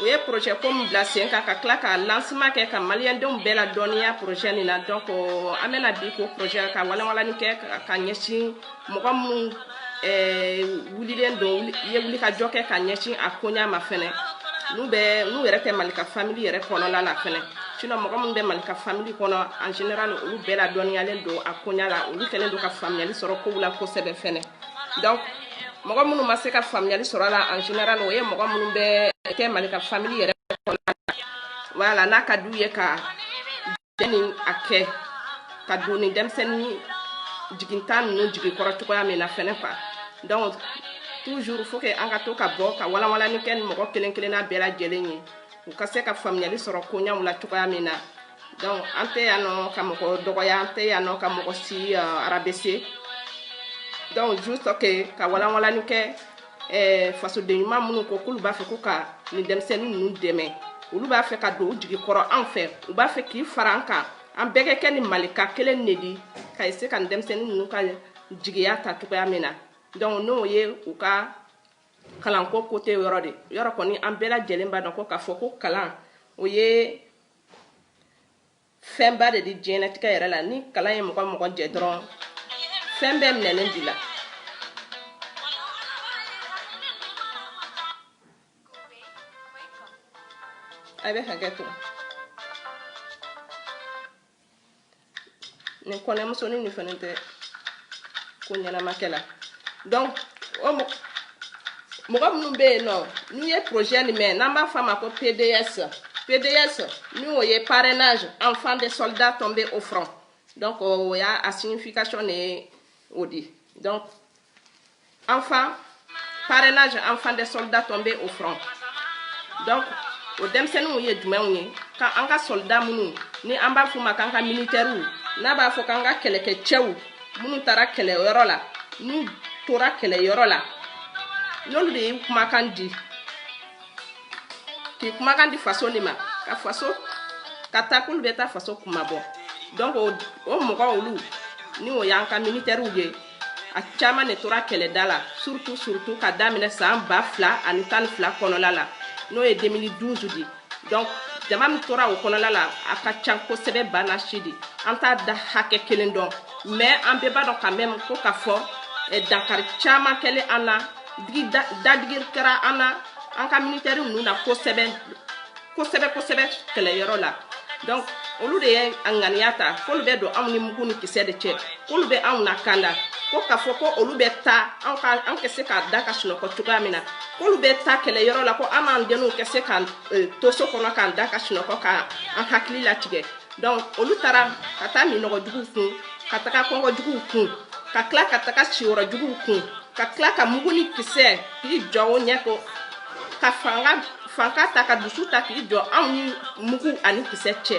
u ye projet ko min bila sen kan ka tila ka lancement kɛ ka maliyɛndenw bɛɛ ladɔnniya projet nin na donc an bɛna bi ko projet ka walawalani kɛ ka ɲɛsin mɔgɔ minnu eh, wulilen don ye wulikajɔ kɛ ka ɲɛsin a koɲa ma fɛnɛ n'u bɛ n'u yɛrɛ tɛ malika famili yɛrɛ kɔnɔla la fɛnɛ sinon mɔgɔ minnu bɛ malika famili kɔnɔ en général olu bɛɛ ladɔnniyalen don a koɲa la olu kɛlen don ka faamuyali sɔrɔ kow la kosɛbɛ fɛnɛ donc mɔgɔ minnu ma se ka faamuyali sɔrɔ a la en général o ye mɔgɔ minnu bɛ kɛ malika famille yɛrɛ kɔnɔna na voilà n'a ka d'u ye ka jɛn ni a kɛ ka don ni denmisɛnnin jigintan ninnu jigi kɔrɔ cogoya min na fɛnɛ quoi donc toujours faut que an ka to ka bɔ ka walanwalani kɛ ni mɔgɔ kelen kelenna bɛɛ lajɛlen ye u ka se ka faamuyali sɔrɔ koɲaw la cogoya min na donc an tɛ yan nɔ ka mɔgɔ dɔgɔya an tɛ yan nɔ ka mɔgɔ si uh, rabaisser donc juste que ka walanwalani kɛ eh, fasoden ɲuman minnu ko k'olu b'a fɛ ko ka nin denmisɛnnin ninnu dɛmɛ olu b'a fɛ ka don u jigi kɔrɔ anw fɛ u b'a fɛ k'i fara an kan an bɛɛ ka kɛ ni malika kelen de di ka se ka nin denmisɛnnin ninnu ka jigiya ta cogoya min na donc n'o ye u ka kalanko côté yɔrɔ de yɔrɔ kɔni an bɛɛ lajɛlen b'a dɔn ko k'a fɔ ko kalan o ye fɛnba de di diɲɛnatigɛ yɛrɛ la ni kalan ye mɔgɔ mɔgɔ jɛ dɔrɔn fɛn bɛɛ minɛnen b'i la a bɛ hakɛ to nin kɔnɛmusonin nin fana tɛ ko ɲɛnama kɛla donc o mɔgɔ minnu bɛ yen nɔ n'u ye projet nin mɛn n'an b'a fɔ a ma ko pds pds n'o ye parrainage enfants des soldats tombés au front donc o y'a a signification de ye o di donc enfant parrainage enfants des soldats tombés au front donc o denmisɛnninw ye jumɛnw ye ka an ka soldat minnu ni an b'a f'u ma k'an ka militɛriw n'a b'a fɔ k'an ka kɛlɛkɛcɛw minnu taara kɛlɛyɔrɔ la n'u tora kɛlɛyɔrɔ la n'olu de ye kumakan di k'i kumakan di faso de ma ka faso ka taa k'olu bɛ taa faso kunmabɔ donc o mɔgɔ olu ni o y'an ka militɛriw ye a caman de tora kɛlɛda la surtout surtout ka daminɛ san ba fila ani tan ni fila kɔnɔla la n'o ye 2012 di donc jama min tora o kɔnɔla la a ka can kosɛbɛ bana si di an t'a da hakɛ kelen dɔn mais an bɛɛ b'a dɔn quand même ko k'a fɔ eh, dankari caman kɛlen an na digi dadigi kɛra an na an ka militɛri ninnu na kosɛbɛ kosɛbɛ kosɛbɛ kɛlɛyɔrɔ la donc olu de ye a ŋaniya ta k'olu bɛ don anw ni mugu ni kisɛ de cɛ k'olu bɛ anw lakanda ko k'a fɔ ko olu bɛ taa anw ka an ka se k'an da ka sunɔgɔ cogoya min na k'olu bɛ taa kɛlɛyɔrɔ la ko an n'an denw ka se k'an eh, to so kɔnɔ k'an da ka sunɔgɔ k'an hakili latigɛ donc olu taara ka taa minɔgɔ juguw kun ka taga kɔngɔ juguw kun ka tila ka taga siyɔrɔ juguw kun ka tila ka mugu ni kisɛ k'i jɔ o ɲɛ ko ka fanka ta ka dusu ta k'i jɔ anw ni mugu ani kisɛ cɛ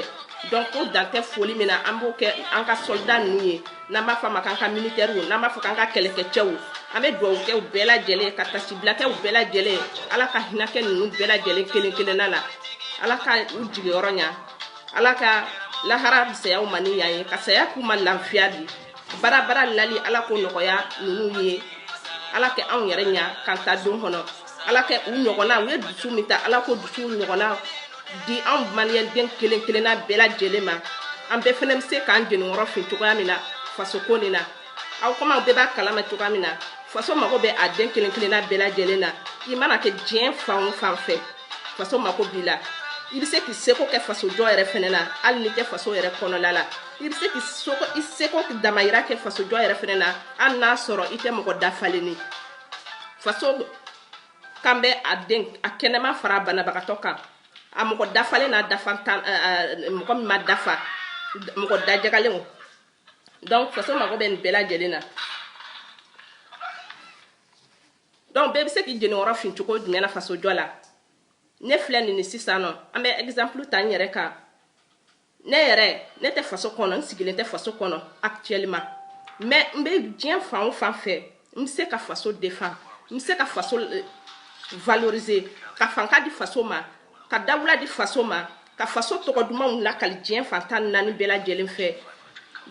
donc ko dan tɛ foli min na an b'o kɛ an ka sɔlida ninnu ye n'an b'a fɔ a ma k'an ka militɛriw n'an b'a fɔ k'an ka kɛlɛkɛcɛw an bɛ dugawu kɛ u bɛɛ lajɛlen ka tasibila kɛ u bɛɛ lajɛlen ala ka hinɛ kɛ ninnu bɛɛ lajɛlen kelen kelenna la ala ka u jigiyɔrɔ ɲa ala ka lahara fisaya u ma ni yan ye ka saya k'u ma lafiya di bara bara lali ala k'o nɔgɔya ninnu ye ala kɛ anw yɛrɛ ɲa k'an ta don kɔnɔ ala kɛ u ɲɔgɔnna u ye dusu min ta ala k'o dusu ɲɔgɔnna di anw maliyɛnden kelen kelenna bɛɛ lajɛlen ma an bɛɛ fɛnɛ bɛ se k'an jeniyɔrɔ fin cogoya min na fasoko nin na aw komi aw bɛɛ b'a kalama cogoya min na faso mago bɛ a den kelen kelenna bɛɛ lajɛlen na i mana kɛ diɲɛ fan o fan fɛ faso mago b'i la i bɛ se k'i seko kɛ fasojɔ yɛrɛ fɛnɛ na hali n'i tɛ faso yɛrɛ kɔnɔla la i bɛ se k'i seko i seko damayira kɛ fasojɔ yɛrɛ fɛnɛ na hali n'a sɔrɔ i tɛ mɔgɔ dafalen ni faso kan bɛ a den a kɛnɛma fara banabagatɔ kan a mɔgɔ dafalen n'a dafa tan mɔgɔ min ma dafa mɔgɔ dajagalenw donc faso mago bɛ nin bɛɛ lajɛlen na donc bɛɛ bɛ se k'i jeniyɔrɔ fin cogo jumɛn na fasojɔ la ne filɛ nin ni sisan nɔ an bɛ exemple ta n yɛrɛ kan ne yɛrɛ ne tɛ faso kɔnɔ n sigilen tɛ faso kɔnɔ actuellement mais n bɛ diɲɛ fan o fan fɛ n bɛ se ka faso défend n bɛ se ka faso euh, valoriser ka fanka di faso ma ka dawula di faso ma ka faso tɔgɔ dumanw lakali diɲɛ fan tan ni naani bɛɛ lajɛlen fɛ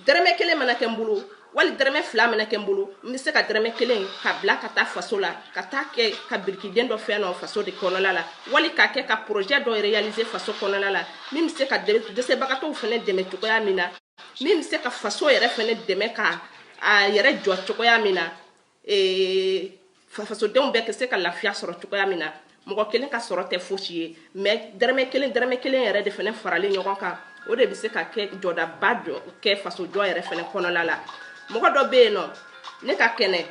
dɛrɛmɛ kelen mana kɛ n bolo wali dɛrɛmɛ fila mana kɛ n bolo n bɛ se ka dɛrɛmɛ kelen ka bila ka taa faso la ka taa kɛ ka birikiden dɔ fɛn dɔ faso de kɔnɔla la wali ka kɛ ka projet dɔ réaliser faso kɔnɔla la min bɛ se ka dɛsɛbagatɔw fɛnɛ dɛmɛ cogoya min na min bɛ se ka faso yɛrɛ fɛnɛ dɛmɛ ka a yɛrɛ jɔ cogoya min na fasodenw bɛɛ bɛ se ka lafiya sɔrɔ cogoya min na mɔgɔ kelen ka sɔrɔ tɛ fosi ye mais dɛrɛmɛ kelen dɛrɛmɛ kelen yɛrɛ de fɛnɛ faralen ɲɔgɔn kan o de bɛ se ka kɛ jɔdaba jɔ kɛ faso jɔ yɛrɛ fɛnɛ kɔnɔla la mɔgɔ dɔ bɛ yen nɔ ne ka kɛnɛ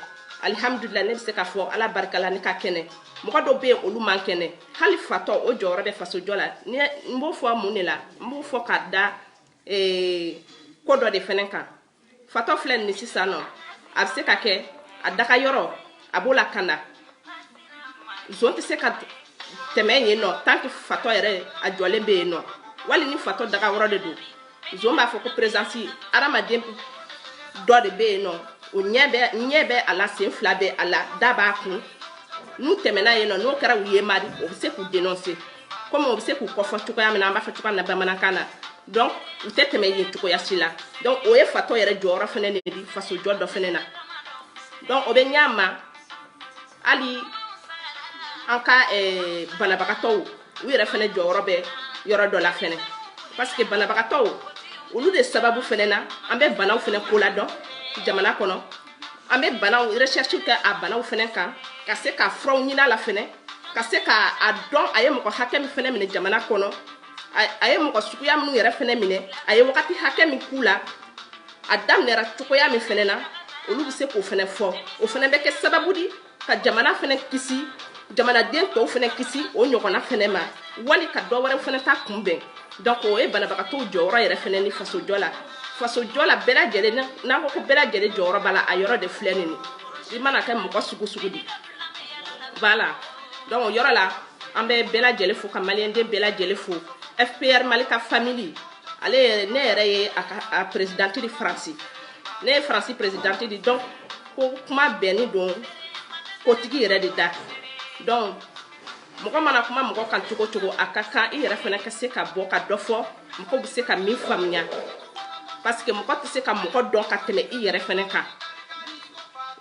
alihamdulila ne bɛ se ka fɔ ala barika la ne ka kɛnɛ mɔgɔ dɔ bɛ yen olu man kɛnɛ hali fatɔ o jɔyɔrɔ bɛ faso jɔ la n b'o fɔ mun de la n b'o fɔ ka da ko dɔ de fɛnɛ kan fatɔ filɛ nin sisan nɔ a bɛ se ka kɛ a daga yɔrɔ a b'o lakanda zon tɛ se ka tɛmɛ yen nɔ tant que fatɔ yɛrɛ a jɔlen bɛ yen nɔ wali ni fatɔ daga yɔrɔ de don zon b'a fɔ ko présence adamaden dɔ de bɛ yen nɔ o ɲɛ bɛ a la sen fila bɛ a la da b'a kun n'u tɛmɛna yen nɔ n'o kɛra u ye mari o bɛ se k'u dénoncer comme o bɛ se k'u kɔfɔ cogoya min na an b'a fɔ cogoya min na bamanankan na donc u tɛ tɛmɛ yen cogoya si la donc o ye fatɔ yɛrɛ jɔyɔrɔ fɛnɛ de di fasojɔ dɔ fɛnɛ na donc o bɛ ɲɛ a ma hali an ka eh, banabagatɔw u yɛrɛ fɛnɛ jɔyɔrɔ bɛ yɔrɔ dɔ la fɛnɛ parce que banabagatɔw olu de sababu fɛnɛ na an bɛ banaw fɛnɛ ko la dɔn jamana kɔnɔ an bɛ banaw recherche kɛ a banaw fɛnɛ kan ka se ka furaw ɲini a la fɛnɛ ka se ka a dɔn a ye mɔgɔ hakɛ min fɛnɛ minɛ jamana kɔnɔ a ye mɔgɔ suguya minnu yɛrɛ fɛnɛ minɛ a ye wagati hakɛ min k'u la a daminɛra cogoya min fɛnɛ na olu bɛ se k'o fɛnɛ fɔ o fɛnɛ bɛ kɛ sababu di ka jamana fɛnɛ kisi jamanaden tɔw fɛnɛ kisi o ɲɔgɔnna fɛnɛ ma wali ka dɔ wɛrɛ fɛnɛ ta kunbɛn donc o ye banabagatɔw jɔyɔrɔ yɛrɛ fɛnɛ di fasojɔ la fasojɔ la bɛɛ lajɛlen n'an ko ko bɛɛ lajɛlen jɔyɔrɔ b'a la a yɔrɔ de filɛ nin i mana kɛ mɔgɔ sugu sugu di voilà donc o yɔrɔ la an bɛ bɛɛ lajɛlen fo ka maliyɛnden bɛɛ lajɛlen fo fpr mali ka famili ale yɛrɛ ne yɛrɛ ye a ka a perezidanti di faransi ne ye faransi perezidanti di donc ko kuma bɛnni don kotigi yɛrɛ de da donc mɔgɔ mana kuma mɔgɔ kan cogo cogo a ka kan i yɛrɛ fɛnɛ ka se ka bɔ ka dɔ fɔ mɔgɔ bɛ se ka min faamuya parce que mɔgɔ tɛ se ka mɔgɔ dɔn ka tɛmɛ i yɛrɛ fɛnɛ kan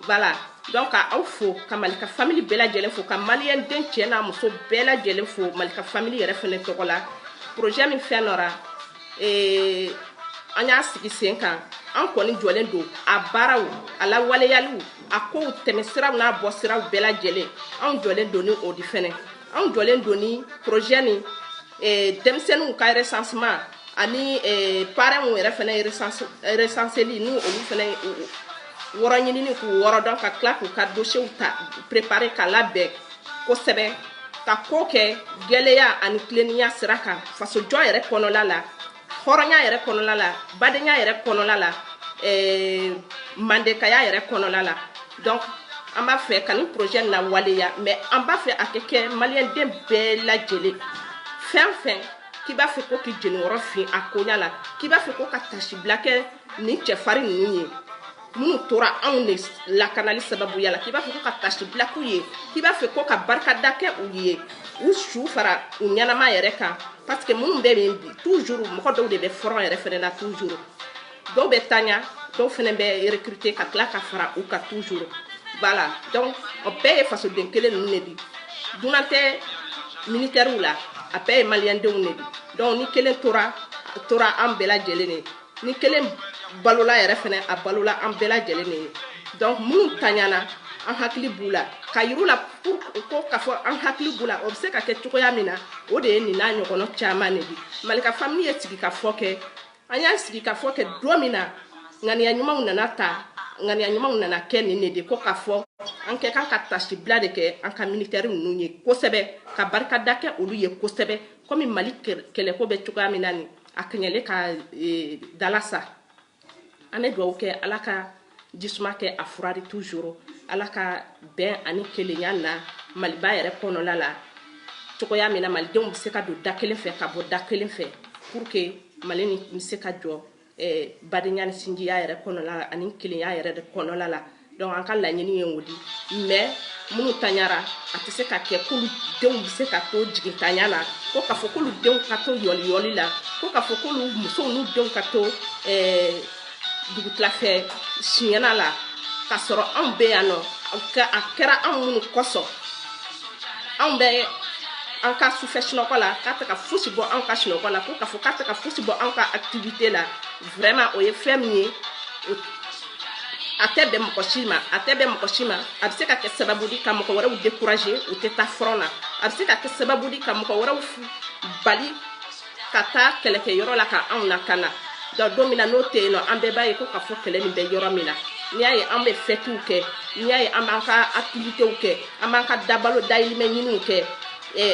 voilà donc ka aw fo ka mali ka famili bɛɛ lajɛlen fo ka maliyɛnden cɛ n'a muso bɛɛ lajɛlen fo mali ka famili yɛrɛ fɛnɛ tɔgɔ la projet min fɛn nɔra ee an y'a sigi sen kan an kɔni jɔlen don a baaraw a lawaleyaliw a kow tɛmɛ siraw n'a bɔ siraw bɛɛ lajɛlen anw jɔlen don ni o di fɛnɛ anw jɔlen don ni projet ni eh, denmisɛnninw ka recensement ani eh, parents yɛrɛ fɛnɛ recenseli ni olu fɛnɛ yɔrɔ ɲinini k'u yɔrɔ dɔn ka tila k'u ka dosiyew ta préparer ka labɛn kosɛbɛ ka ko kɛ gɛlenya ani tilennenya sira kan fasojɔ yɛrɛ kɔnɔla la hɔrɔnya yɛrɛ kɔnɔla la badenya yɛrɛ kɔnɔla la eh, mandekaya yɛrɛ kɔnɔla la donc an b'a fɛ ka nin projet lawaleya mais an b'a fɛ a ka kɛ maliyɛnden bɛɛ lajɛlen fɛn fɛn k'i b'a fɛ ko k'i jeniyɔrɔ fin a koɲa la k'i b'a fɛ ko ka tasibila kɛ ni cɛfarin ninnu ye minnu tora anw de lakanali sababuya la k'i b'a fɛ ko ka tasibila k'u ye k'i b'a fɛ ko ka barikada kɛ u ye u su fara u ɲɛnama yɛrɛ kan parce que minnu bɛ yen bi toujours mɔgɔ dɔw de bɛ front yɛrɛ fɛnɛ na toujours dɔw bɛ taɲa dɔw fɛnɛ bɛ recruter ka tila ka fara u kan toujours voilà donc o bɛɛ ye fasoden kelen ninnu de di dunan tɛ militaires la a bɛɛ ye maliyɛndenw de di donc ni kelen tora tora an bɛɛ lajɛlen de ni kelen balola yɛrɛ fɛnɛ a balola an bɛɛ lajɛlen de ye donc minnu taɲana an hakili b'u la k'a yir'u la ko k'a fɔ an hakili b'u la o bɛ se ka kɛ cogoya min na o de ye nin n'a ɲɔgɔnna caman de bi malika famili ye sigikafɔ kɛ an y'a sigikafɔ kɛ don min na ŋaniya ɲumanw nana ta ŋaniya ɲumanw nana kɛ nin de di ko k'a fɔ an ka kan ka tasibila de kɛ an ka militɛri ninnu ye kosɛbɛ ka barikada kɛ olu ye kosɛbɛ komi mali kɛlɛko bɛ cogoya min na nin a kɛɲɛlen ka e, dala sa an bɛ dugawu kɛ ala ka jisuma kɛ a fura di toujours ala ka bɛn ani kelenya na maliba yɛrɛ kɔnɔla la cogoya min na malidenw bɛ se ka don da kelen fɛ ka bɔ da kelen fɛ pour que mali nin bɛ se ka jɔ eh, badenya ni sinjiya yɛrɛ kɔnɔla la ani kelenya yɛrɛ de kɔnɔla la donc an ka laɲini ye o di mais minnu taɲara a tɛ se ka kɛ k'olu denw bɛ se ka to jigintanya la ko k'a fɔ k'olu denw ka to yɔliyɔli la ko k'a fɔ k'olu musow n'u denw ka to eh, dugutilafɛ siɲɛna la k'a sɔrɔ anw bɛ yan nɔ a kɛra anw minnu kosɔn anw bɛ an ka sufɛ sunɔgɔ la k'a tɛ ka fosi bɔ anw ka sunɔgɔ la ko k'a fɔ k'a tɛ ka fosi bɔ anw ka activité la vraiment o ye fɛn min ye a tɛ bɛn mɔgɔ si ma a tɛ bɛn mɔgɔ si ma a bɛ se ka kɛ sababu di ka mɔgɔ wɛrɛw décourager u tɛ taa front na a bɛ se ka kɛ sababu di ka mɔgɔ wɛrɛw bali ka taa kɛlɛkɛyɔrɔ la ka anw lakana donc don min na n'o tɛ yen nɔ an bɛɛ b'a ye ko k'a fɔ kɛlɛ nin bɛ yɔrɔ min na n'i y'a ye an bɛ fɛtiw kɛ n'i y'a ye an b'an ka activitéw kɛ an b'an ka dabalo dayirimɛ ɲiniw kɛ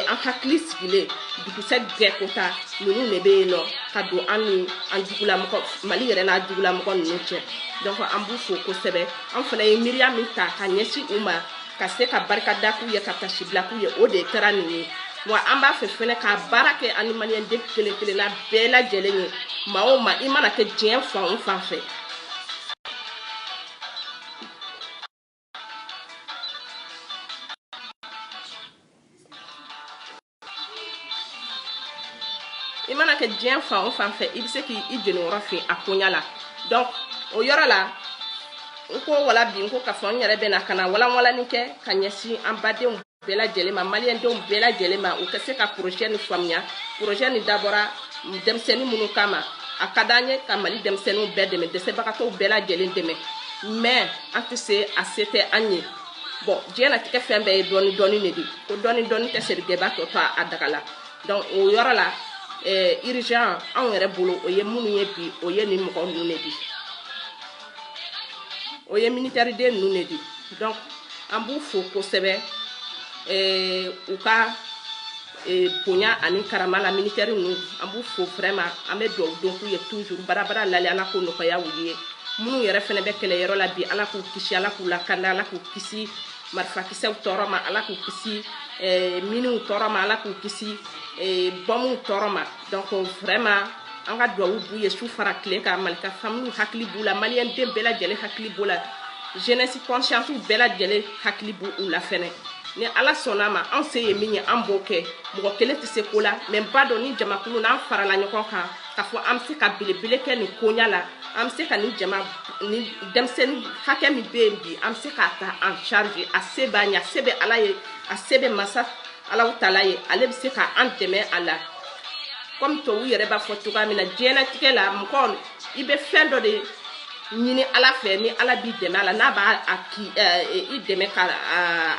an hakili sigilen dugusɛ bɛɛ kota ninnu de bɛ yen nɔ ka don an ni an jugulamɔgɔ mali yɛrɛ n'a jugulamɔgɔ ninnu cɛ donc an b'u fo kosɛbɛ an fana ye miiriya min ta ka ɲɛsin u ma ka se ka barikada k'u ye ka tasibila k'u ye o de kɛra nin ye wa an b'a fɛ fɛnɛ ka baara kɛ an ni maliyɛnden kelen kelenna bɛɛ lajɛlen ye maa o maa i mana kɛ diɲɛ fan o fan fɛ i mana kɛ diɲɛ fan o fan fɛ i bɛ se k'i jeniyɔrɔ fin a koɲa la donc o yɔrɔ la n ko wala bi n ko k'a fɔ n yɛrɛ bɛna ka na walanwalani kɛ ka ɲɛsin an badenw bɛɛ lajɛlen ma maliyɛndenw bɛɛ lajɛlen ma u ka se ka porozɛ ni faamuya porozɛ ni dabɔra denmisɛnnin minnu kama a ka d'an ye ka mali denmisɛnninw bɛɛ dɛmɛ dɛsɛbagatɔw bɛɛ lajɛlen dɛmɛ mɛ an tɛ se a se tɛ an ye bon diɲɛlatigɛ fɛn bɛɛ ye dɔɔni dɔɔni de di ko dɔɔni dɔɔni tɛ serigɛba tɔ to a daga la donc o yɔrɔ la urgent anw yɛrɛ bolo o ye minnu ye bi o ye nin mɔgɔ ninnu de di o ye militaire den ninnu de di donc an b'u fo kosɛbɛ eh, u ka eh, bonya ani karama la militaire ninnu an b'u fo vraiment an bɛ dugawu don k'u ye toujours barabara lali ala k'o nɔgɔya u ye minnu yɛrɛ fɛnɛ bɛ kɛlɛyɔrɔ la bi ala k'u kisi ala k'u lakanda ala k'u kisi marifakisɛw tɔɔrɔ ma ala k'u kisi eh, miniw tɔɔrɔ ma ala k'u kisi eh, bɔmuw tɔɔrɔ ma donc vraiment an ka duwawu b'u ye su fara tile kan malika familiw hakili b'u la maliyɛnden bɛɛ lajɛlen hakili b'u la jeunesse conscience bɛɛ lajɛlen hakili b'u la fɛnɛ ni ala sɔnna ma an se ye min ye an b'o kɛ mɔgɔ kelen tɛ se ko la mɛ an b'a dɔn ni jamakulu n'an farala ɲɔgɔn kan k'a fɔ an bɛ se ka belebele kɛ nin koɲa la an bɛ se ka nin jama ni denmisɛnnin hakɛ min bɛ yen bi an bɛ se k'a ta en charge a se b'an ye a se bɛ ala ye a se bɛ masa alahu taala ye ale bɛ se ka an dɛmɛ a la kɔmi tubabu yɛrɛ b'a fɔ cogoya min na diɲɛnatigɛ la mɔgɔ i bɛ fɛn dɔ de ɲini ala fɛ ni ala b'i dɛmɛ a la n'a b'a a k'i dɛmɛ ka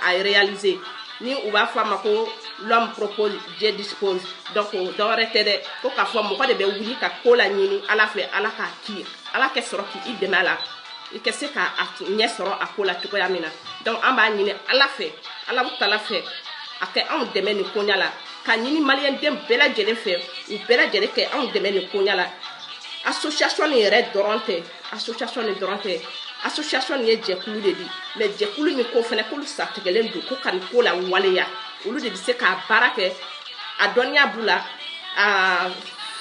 a réaliser ni u b'a fɔ a ma ko l'homme propose dieu dispose donc dɔwɛrɛ tɛ dɛ fo k'a fɔ mɔgɔ de bɛ wuli ka ko la ɲini ala fɛ ala k'a k'i ye ala kɛ sɔrɔ k'i dɛmɛ a la i ka se k'a ɲɛ sɔrɔ a ko la cogoya min na donc an b'a ɲini ala fɛ alahu taala fɛ a kɛ anw dɛmɛ nin koɲa la ka ɲini maliyɛnden bɛɛ lajɛlen fɛ u bɛɛ lajɛlen kɛ anw dɛmɛ nin koɲa la association nin yɛrɛ dɔrɔn tɛ association nin dɔrɔn tɛ association nin ye jɛkulu de di mɛ jɛkulu nin ko fɛnɛ k'olu satigɛlen don ko ka nin ko la waleya olu de bɛ se k'a baara kɛ a dɔnniya b'u la a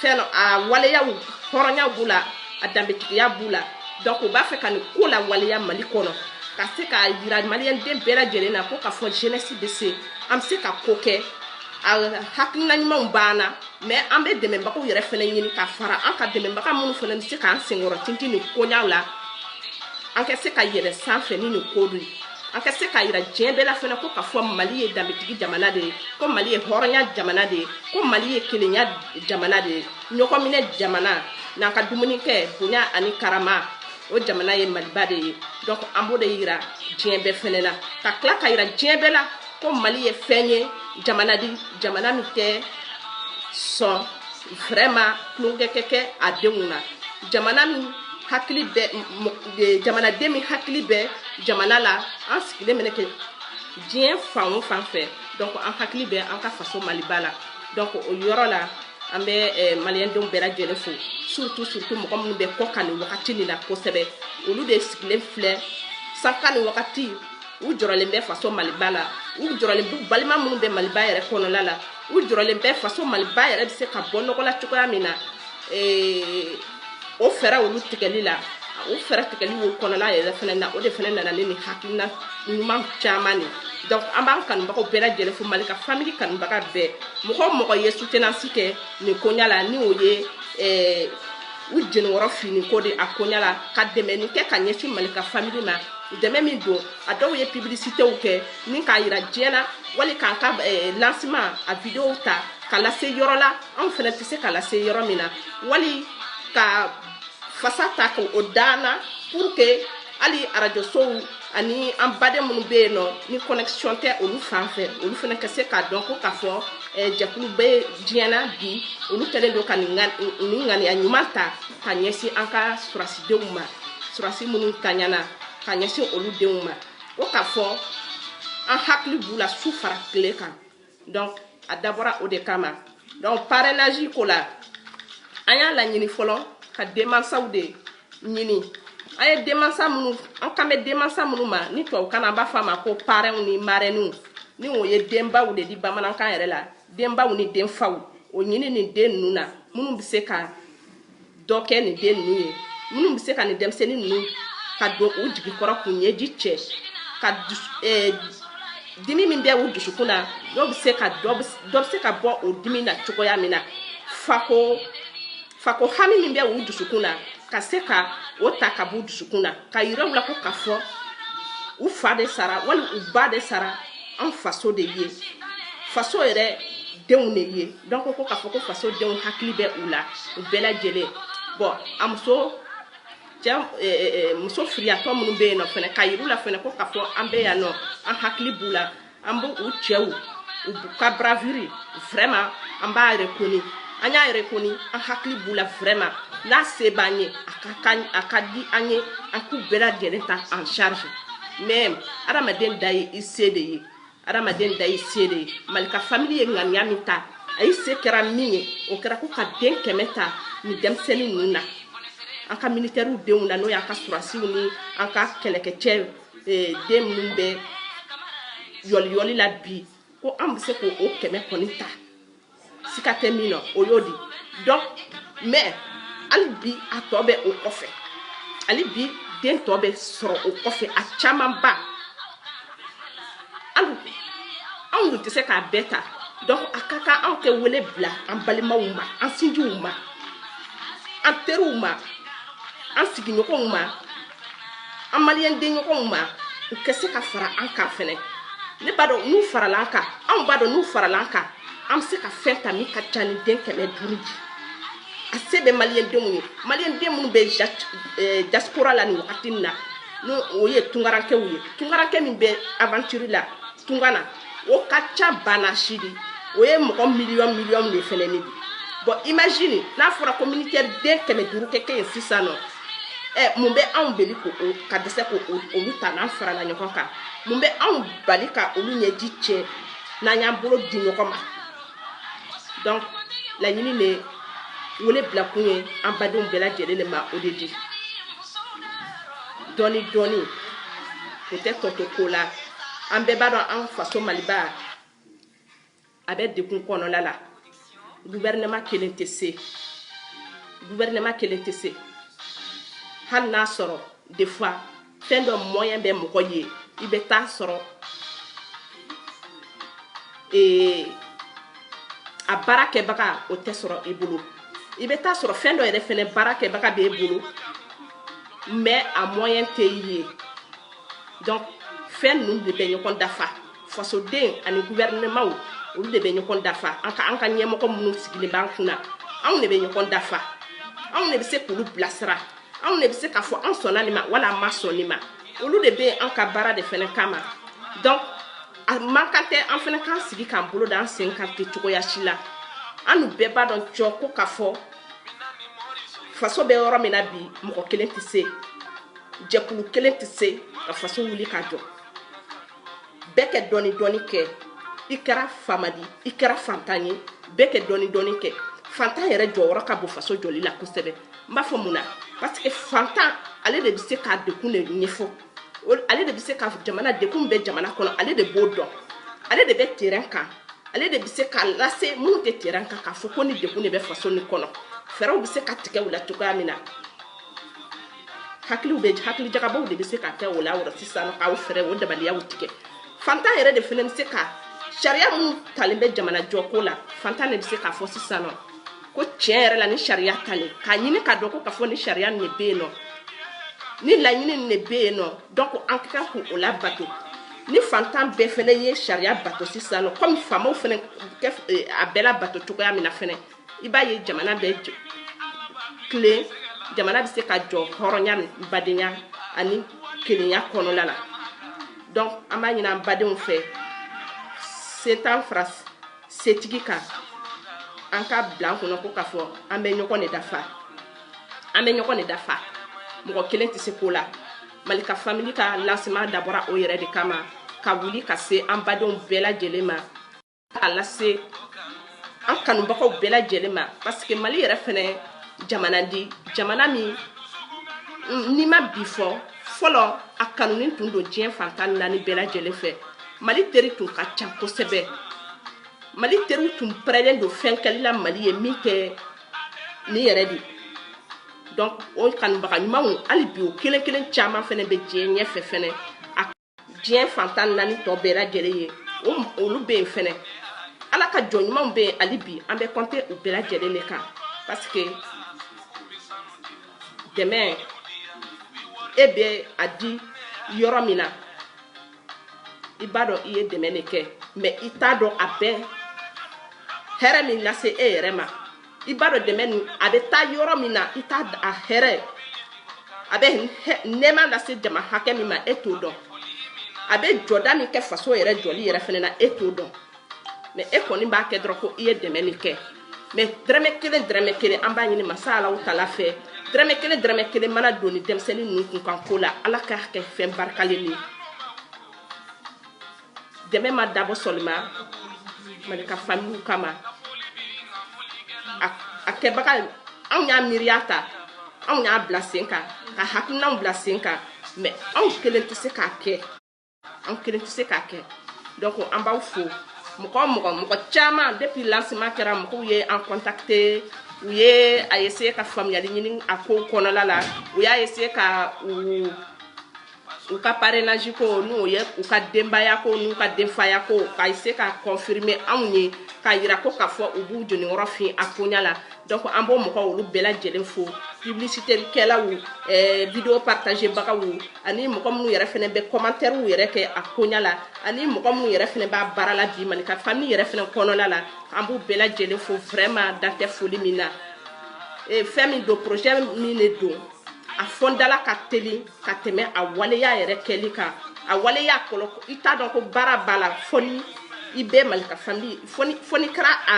fɛn a waleyaw hɔrɔnya b'u la a danbetigiya b'u la donc u b'a fɛ ka nin ko la waleya mali kɔnɔ ka se k'a yira maliyɛnden bɛɛ lajɛlen na ko k'a fɔ jeunesse bɛ se an bɛ se ka ko kɛ a hakilina ɲumanw b'an na mɛ an bɛ dɛmɛbagaw yɛrɛ fɛnɛ ɲini ka fara an ka dɛmɛbaga minnu fɛnɛ bɛ se k'an senkɔrɔ tintin nin koɲaw la an ka se ka yɛlɛ sanfɛ ni nin ko dun ye an ka se k'a yira diɲɛ bɛɛ la fɛnɛ ko k'a fɔ mali ye danbetigi jamana de ye ko mali ye hɔrɔnya jamana de ye ko mali ye kelenya jamana de ye ɲɔgɔnminɛ jamana n'an ka dumuni kɛ bonya ani karama o jamana ye maliba de ye donc an b'o de yira diɲɛ bɛɛ fɛnɛ na ka tila ka yira diɲɛ bɛɛ la ko mali ye fɛn ye jamana di jamana min tɛ sɔn vraiment tulonkɛ ka kɛ a denw na jamana min hakili bɛ jamanaden min hakili bɛ jamana la an sigilen mɛnɛ kɛ diɲɛ fan o fan fɛ donc an hakili bɛ an ka faso maliba la donc o yɔrɔ la an bɛ eh, maliyɛndenw bɛɛ lajɛlen fo surtout surtout mɔgɔ minnu bɛ kɔkan nin wagati nin na kosɛbɛ olu de sigilen filɛ sanko nin wagati u jɔrɔlen bɛ faso maliba la u jɔrɔlen bɛ balima minnu bɛ maliba yɛrɛ kɔnɔla la u jɔrɔlen bɛ faso maliba yɛrɛ bɛ se ka bɔ nɔgɔ la cogoya min na eh, o fɛɛrɛ olu tigɛli la o fɛɛrɛ tigɛli o kɔnɔna yɛrɛ fɛnɛ na o de fɛnɛ nana ni nin hakilina ɲuman caman di donc an b'an kanubagaw bɛɛ lajɛlen fo mali ka famili kanubaga bɛɛ mɔgɔ o mɔgɔ ye soutenance kɛ nin koɲa la ni o ye eh, u jenikɔrɔ fini ko de a koɲa la ka dɛmɛni kɛ ka ɲɛsin mali ka famili ma dɛmɛ min don a dɔw ye publicitéw kɛ ni k'a yira diɲɛ na wali k'an ka eh, lancement a vidéo ta ka lase yɔrɔ la anw fɛnɛ tɛ se ka lase yɔrɔ min na wali ka fasa ta ka o daana pour que hali arajosow ani an baden minnu bɛ yen nɔ ni connexion tɛ olu fan fɛ olu fɛnɛ ka se k'a dɔn ko k'a fɔ eh, jɛkulu bɛ diɲɛ na bi olu kɛlen don ka nin ŋaniya ɲuman ta ka ɲɛsin an ka surasidenw ma surasi minnu taɲana ka ɲɛsin olu denw ma ko k'a fɔ an hakili b'u la su fara tile kan donc a dabɔra o de kama donc parrainage ko la an y'a laɲini fɔlɔ ka denmansaw de ɲini an ye denmansa minnu an kan bɛ denmansa minnu ma ni tubabukan na an b'a fɔ a ma ko parɛnw ni marɛniw ni o ye denbaw de di bamanankan yɛrɛ la denbaw ni denfaw o ɲini nin den ninnu na minnu bɛ se ka dɔ kɛ nin den ninnu ye minnu bɛ se ka nin denmisɛnnin ninnu ka don u jigi kɔrɔ k'u ɲɛji cɛ ka eh, dimi min bɛ u dusukun na dɔ bɛ se ka dɔ bɛ se ka bɔ o dimi na cogoya min na fako hami min bɛ u dusukun na ka se ka o ta ka b'u dusukun na ka yira u la ko k'a fɔ u fa de sara wali u ba de sara an faso de ye faso yɛrɛ denw de ye donc ko k'a fɔ ko faso denw hakili bɛ u la u bɛɛ lajɛlen bon a muso cɛ muso firiyatɔ minnu bɛ yen nɔ fɛnɛ ka yir'u la fɛnɛ ko k'a fɔ an bɛ yan nɔ an hakili b'u la an b'u u cɛw u ka bravoure vraiment an b'a rekoni an y'a rekoni an hakili b'u la vraiment n'a se b'an ye a ka di an ye an k'u bɛɛ lajɛlen ta en charge mais adamaden dan ye i se de ye adamaden dan y'i se de ye mali ka famili ye ŋaniya min ta a y'i se kɛra min ye o kɛra ko ka den kɛmɛ ta nin denmisɛnnin ninnu na an ka militɛriw denw na n'o y'an ka sɔrɔdasiw ni an ka kɛlɛkɛcɛ eh, den minnu bɛ yɔliyɔli la bi ko an bɛ se k'o kɛmɛ kɔni ta sika tɛ min na o y'o di donc mais hali bi a tɔ bɛ o kɔfɛ hali bi den tɔ bɛ sɔrɔ o kɔfɛ a camanba anw dun tɛ se k'a bɛɛ ta donc a ka kan anw ka wele bila an balimaw ma an sinjiw ma an teriw ma an sigiɲɔgɔnw ma an maliyɛn denɲɔgɔnw ma u ka se ka fara an kan fɛnɛ ne b'a dɔn n'u farala an kan anw b'a dɔn n'u farala an kan an bɛ se ka fɛn ta min ka ca ni den kɛmɛ duuru di a se bɛ maliyɛn denw ye maliyɛn den minnu bɛ diaspora la nin wagati nin na n'o o ye tungarakɛw ye tungarakɛ min bɛ aventure la tunga na o ka ca bana si de o ye mɔgɔ miliyɔn miliyɔn de fɛnɛ ne bi bon imagine n'a fɔra ko militaire den kɛmɛ duuru kɛ kɛ yen sisan nɔ ɛ mun bɛ anw bali ko o ka dɛsɛ k'olu ta n'an farala ɲɔgɔn kan mun bɛ anw bali ka olu ɲɛji cɛ n'an y'an bolo di ɲɔgɔn ma donc laɲini de wele bilakun ye an badenw bɛɛ lajɛlen de ma o de di dɔɔni dɔɔni o tɛ tɔ to ko la an bɛɛ b'a dɔn an faso maliba a bɛ degun kɔnɔla la guvɛrɛnɛma kelen tɛ se guvɛrɛnɛma kelen tɛ se hali n'a sɔrɔ des fois fɛn dɔ mɔyɛn bɛ mɔgɔ ye i bɛ taa sɔrɔ ee a baarakɛbaga o tɛ sɔrɔ i bolo i bɛ taa sɔrɔ fɛn dɔ yɛrɛ fɛnɛ baarakɛbaga b'e bolo mais a mɔyɛn tɛ i ye donc fɛn ninnu de bɛ ɲɔgɔn dafa fasoden ani guvɛrinɛma olu de bɛ ɲɔgɔn dafa an ka an ka ɲɛmɔgɔ minnu sigilen b'an kunna anw de bɛ ɲɔgɔn dafa anw de bɛ se k'olu bilasira anw de bɛ se k'a fɔ an sɔnna nin ma wala an ma sɔn nin ma olu de bɛ an ka baara de fana kama donc a man kan tɛ an fana k'an sigi k'an bolo da an sen kan ten cogoya si la an n'u bɛɛ b'a dɔn cɔ ko k'a fɔ faso bɛ yɔrɔ min na bi mɔgɔ kelen tɛ se jɛkulu kelen tɛ se ka faso wuli ka jɔ bɛɛ kɛ dɔɔni dɔɔni kɛ i kɛra faama di i kɛra fantan ye bɛɛ kɛ dɔɔni dɔɔni kɛ fantan yɛrɛ jɔyɔrɔ ka bon faso jɔli la kosɛbɛ n b'a fɔ mun na parce que fantan ale de bɛ se k'a degun de ɲɛfɔ ale de bɛ se ka jamana degun bɛ jamana kɔnɔ ale de b'o dɔn ale de bɛ terrain kan ale de bɛ se k'a lase minnu tɛ terrain kan k'a fɔ ko nin degun de bɛ faso nin kɔnɔ fɛɛrɛw bɛ se ka tigɛ o la cogoya min na hakiliw bɛ hakilijagabɔw de bɛ se ka kɛ o la yɔrɔ sisan k'aw fɛɛrɛ o dabaliyaw tigɛ fantan yɛrɛ de fana bɛ se ka sariya minnu talen bɛ jamana jɔko la fantan de bɛ se k'a fɔ sisan nɔ ko tiɲɛ yɛrɛ la ni sariya talen k'a ɲini k'a dɔn ko k'a fɔ ni sariya nin de bɛ yen nɔ ni laɲini nin de bɛ yen nɔ donc an ka kan k'o labato ni fantan bɛɛ fana ye sariya bato sisan nɔ kɔmi faamaw fana a bɛɛ labato cogoya min na fana i b'a ye jamana bɛ tilen jamana bɛ se ka jɔ hɔrɔnya badenya ani kelenya kɔnɔna la donc an b'a ɲini an badenw fɛ setan fara setigi kan an k'a bila an kɔnɔ ko k'a fɔ an bɛ ɲɔgɔn de dafa an bɛ ɲɔgɔn de dafa mɔgɔ kelen tɛ se ko la malika family ka lancement dabɔra o yɛrɛ de kama ka wuli ka se an badenw bɛɛ lajɛlen ma k'a lase an kanubagaw bɛɛ lajɛlen ma parce que mali yɛrɛ fɛnɛ jamana di jamana min n'i ma bi fɔ fɔlɔ a kanunin tun don diɲɛ fan tan naani bɛɛ lajɛlen fɛ mali teri tun ka ca kosɛbɛ mali teriw tun pɛrɛlen don fɛn kɛli la mali ye min tɛ nin yɛrɛ de donc o kanubaga ɲumanw hali bi o kelen kelen caman fɛnɛ bɛ diɲɛ ɲɛfɛ fɛnɛ diɲɛ fan tan naani tɔ bɛɛ lajɛlen ye olu bɛ yen fɛnɛ ala ka jɔn ɲumanw bɛ yen hali bi an bɛ compter u bɛɛ lajɛlen de kan parce que dɛmɛ e bɛ a di yɔrɔ min na i b'a dɔn i ye dɛmɛ de kɛ mais i t'a dɔn a bɛ hɛrɛ min lase e yɛrɛ ma i b'a dɔn dɛmɛ nin a bɛ taa yɔrɔ min na i t'a a hɛrɛ a bɛ nɛɛma lase jama hakɛ min ma e t'o dɔn a bɛ jɔda min kɛ faso yɛrɛ jɔli yɛrɛ fɛnɛ na e t'o dɔn mais e kɔni b'a kɛ dɔrɔn ko i ye dɛmɛ nin kɛ mais dɛrɛmɛ kelen dɛrɛmɛ kelen an b'a ɲini masa alahu taala fɛ dɛrɛmɛ kelen dɛrɛmɛ kelen mana don nin denmisɛnnin ninnu kunkanko la ala k'a kɛ fɛn barikalen ye dɛmɛ ma dabɔ seulement malika family kama a kɛbaga anw y'a miiriya ta anw y'a bila sen kan ka hakilinaw bila sen kan mais anw kelen tɛ se k'a kɛ anw kelen tɛ se k'a kɛ donc an b'aw fo mɔgɔ mɔgɔ mɔgɔ caman depuis lancement kɛra mɔgɔw ye an contacter u ye a essayer ka faamuyali ɲini a ko kɔnɔla la u y'a essayer ka u u ka parrainage ko n'o ye u ka denbaya ko n'u ka denfaya ko ka se ka confirmer anw ye ka yira ko k'a fɔ u b'u jeniyɔrɔ fin a koɲa la donc an b'o mɔgɔ olu bɛɛ lajɛlen fo publicité kɛlaw eh, video partager bagaw ani mɔgɔ minnu yɛrɛ fɛnɛ bɛ commentaire yɛrɛ kɛ a koɲa la ani mɔgɔ minnu yɛrɛ fɛnɛ b'a baara la bi malika famille yɛrɛ fɛnɛ kɔnɔna la an b'u bɛɛ lajɛlen fo vraiment dan tɛ foli min na eh, fɛn min don projet min de don a fɔndala ka teli ka tɛmɛ a waleya yɛrɛ kɛli kan a waleya kɔlɔ i t'a dɔn ko baara b'a la fo ni i bɛ malika famille fo n'i kɛra a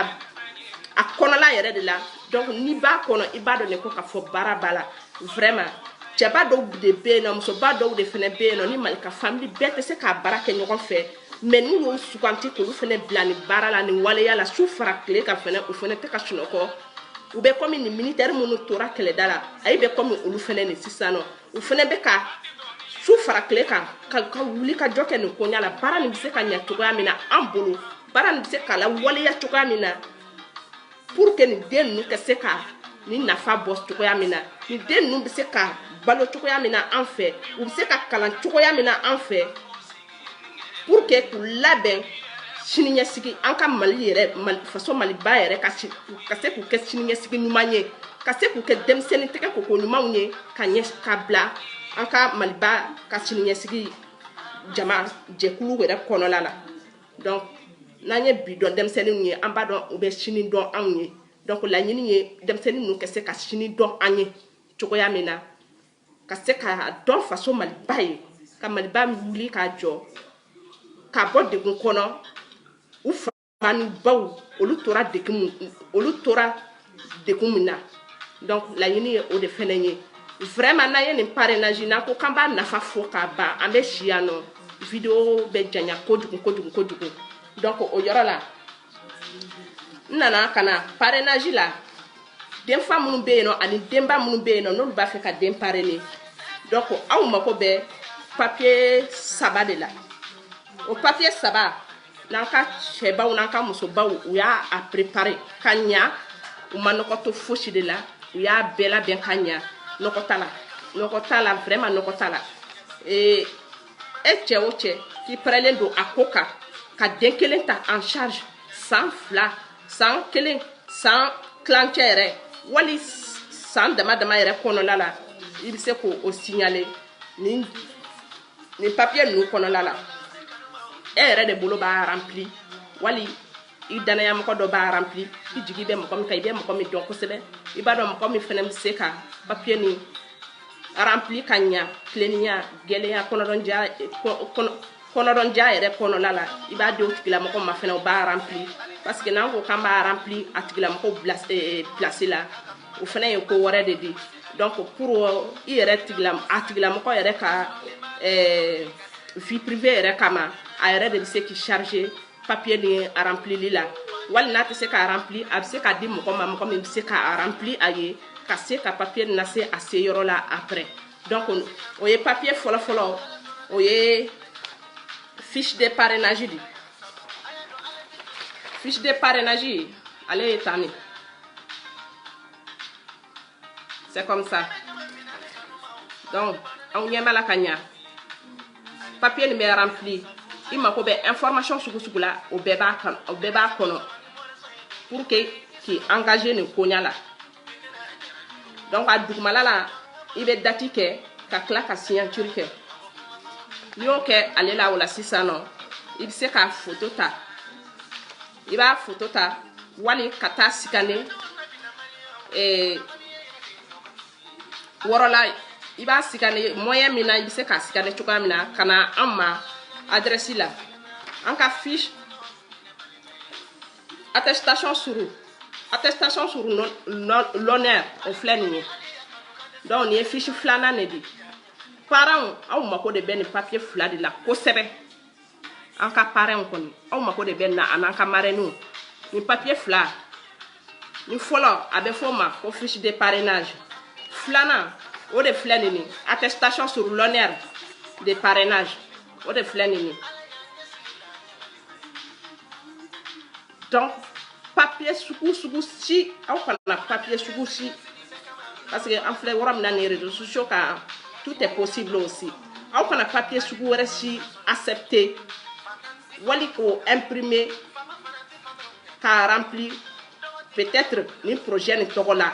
a kɔnɔla yɛrɛ de la donc n'i b'a kɔnɔ i b'a dɔn de ko ka fɔ baara b'a la vraiment cɛba dɔw de bɛ yen nɔ musoba dɔw de fɛnɛ bɛ yen nɔ ni malika famille bɛɛ tɛ se k'a baara kɛ ɲɔgɔn fɛ mais n'u y'o suganti k'olu fɛnɛ bila nin baara la nin waleya la su fara tile kan fɛnɛ u fɛnɛ tɛ ka sunɔgɔ u bɛ kɔmi nin militaire minnu tora kɛlɛda la ayi bɛ kɔmi olu fɛnɛ nin sisan nɔ u fɛnɛ bɛ ka su fara tile kan ka ka wuli ka jɔ kɛ nin koɲa la baara nin bɛ se ka ɲɛ cogoya min na an bolo baara nin bɛ se ka lawaleya cogoya min na pour que nin den ninnu ka se ka nin nafa bɔ cogoya min na nin den ninnu bɛ se ka balo cogoya min na an fɛ u bɛ se ka kalan cogoya min na an fɛ pour que k'u labɛn siniɲɛsigi an ka mali yɛrɛ mali faso maliba yɛrɛ ka si ka se k'u kɛ siniɲɛsigi ɲuman ye ka se k'u kɛ denmisɛnnin tɛgɛ koko ɲumanw ye ka ɲɛ ka bila an ka maliba ka siniɲɛsigi jama jɛkulu yɛrɛ kɔnɔna la donc n'an ye bi dɔn denmisɛnninw ye an b'a dɔn u bɛ sini dɔn anw ye donc laɲini ye denmisɛnnin ninnu ka se ka sini dɔn an ye cogoya min na ka se ka dɔn faso maliba ye ka maliba wuli k'a jɔ k'a bɔ degun kɔnɔ u fa n'u baw olu tora degun olu tora degun min na donc laɲini ye o de fɛnɛ ye vraiment n'an ye nin parrainage n'an ko k'an b'a nafa fɔ k'a ban an bɛ si yan nɔ video bɛ janya kojugu kojugu kojugu donc o yɔrɔ la n nana ka na parrainage la denfa minnu bɛ yen nɔ ani denba minnu bɛ yen nɔ n'olu b'a fɛ ka den parrainer donc aw mako bɛ papier saba de la o papier saba n'an ka cɛbaw n'an ka musobaw u y'a préparer ka ɲa u ma nɔgɔ to fosi de la u y'a bɛɛ labɛn ka ɲa nɔgɔ t'a la nɔgɔ t'a la vraiment nɔgɔ t'a la ee e cɛ o cɛ k'i pɛrɛlen don a ko kan ka den kelen ta en charge san fila san kelen san kilancɛ yɛrɛ wali san dama dama yɛrɛ kɔnɔla la i bɛ se k'o signaler nin papier ninnu kɔnɔla la e yɛrɛ de bolo b'a rempli wali i danayamɔgɔ dɔ b'a rempli i jigi bɛ mɔgɔ min kan i bɛ mɔgɔ min dɔn kosɛbɛ i b'a dɔn mɔgɔ min fana bɛ se ka papier nin rempli ka ɲa tileninya gɛlɛya kɔnɔdɔnja kɔnɔdɔnja yɛrɛ kɔnɔna la i b'a di o tigilamɔgɔ ma fana o b'a rempli parce que n'an ko k'an b'a rempli a tigilamɔgɔ place la o fana ye ko wɛrɛ de di donc pour i yɛrɛ tigila a tigilamɔgɔ yɛrɛ ka vie privée yɛrɛ kama a yɛrɛ de bɛ se k'i charger papier nin rempli la wali n'a tɛ se k'a rempli a bɛ se k'a di mɔgɔ ma mɔgɔ min bɛ se k'a rempli a ye ka se ka papier nase a seyɔrɔ la après donc o ye papier fɔlɔ fɔlɔ o ye fiche de parrainage di fiche de parrainage ale ye tan de c'est comme ça donc aw ɲɛ b'a la ka ɲa papier nin bɛ rempli i mako bɛ information sugu sugu la o bɛɛ b'a kan o bɛɛ b'a kɔnɔ pour que k'i engager nin koɲa la donc a dugumala la i bɛ dati kɛ ka tila ka signature kɛ n'i y'o kɛ ale la o la sisan nɔ i bɛ se k'a foto ta i b'a foto ta wali ka taa scanner eh, yɔrɔ la i b'a scanner moyen min na i bɛ se k'a scanner cogoya min na ka na an ma adrɛsi la an ka fiche attestation sur attestation sur l'honneur o filɛ nin ye donc nin ye fiche filanan de di parrains aw mako de bɛ nin papier fila de la kosɛbɛ an ka parrains kɔni aw mako de bɛ nin na an'an ka marraines nin papier fila nin fɔlɔ a bɛ fɔ o ma ko fiche de parrainage filanan o de filɛ nin ye attestation sur l'honneur de parrainage o de filɛ nin ye Donc, papier sugu sugu si aw kana papier sugu si parce que an filɛ yɔrɔ min na nin réseaux sociaux kan tout est possible aussi aw kana papier sugu wɛrɛ si accepter wali k'o imprimer k'a remplir peut-être nin projet nin tɔgɔ la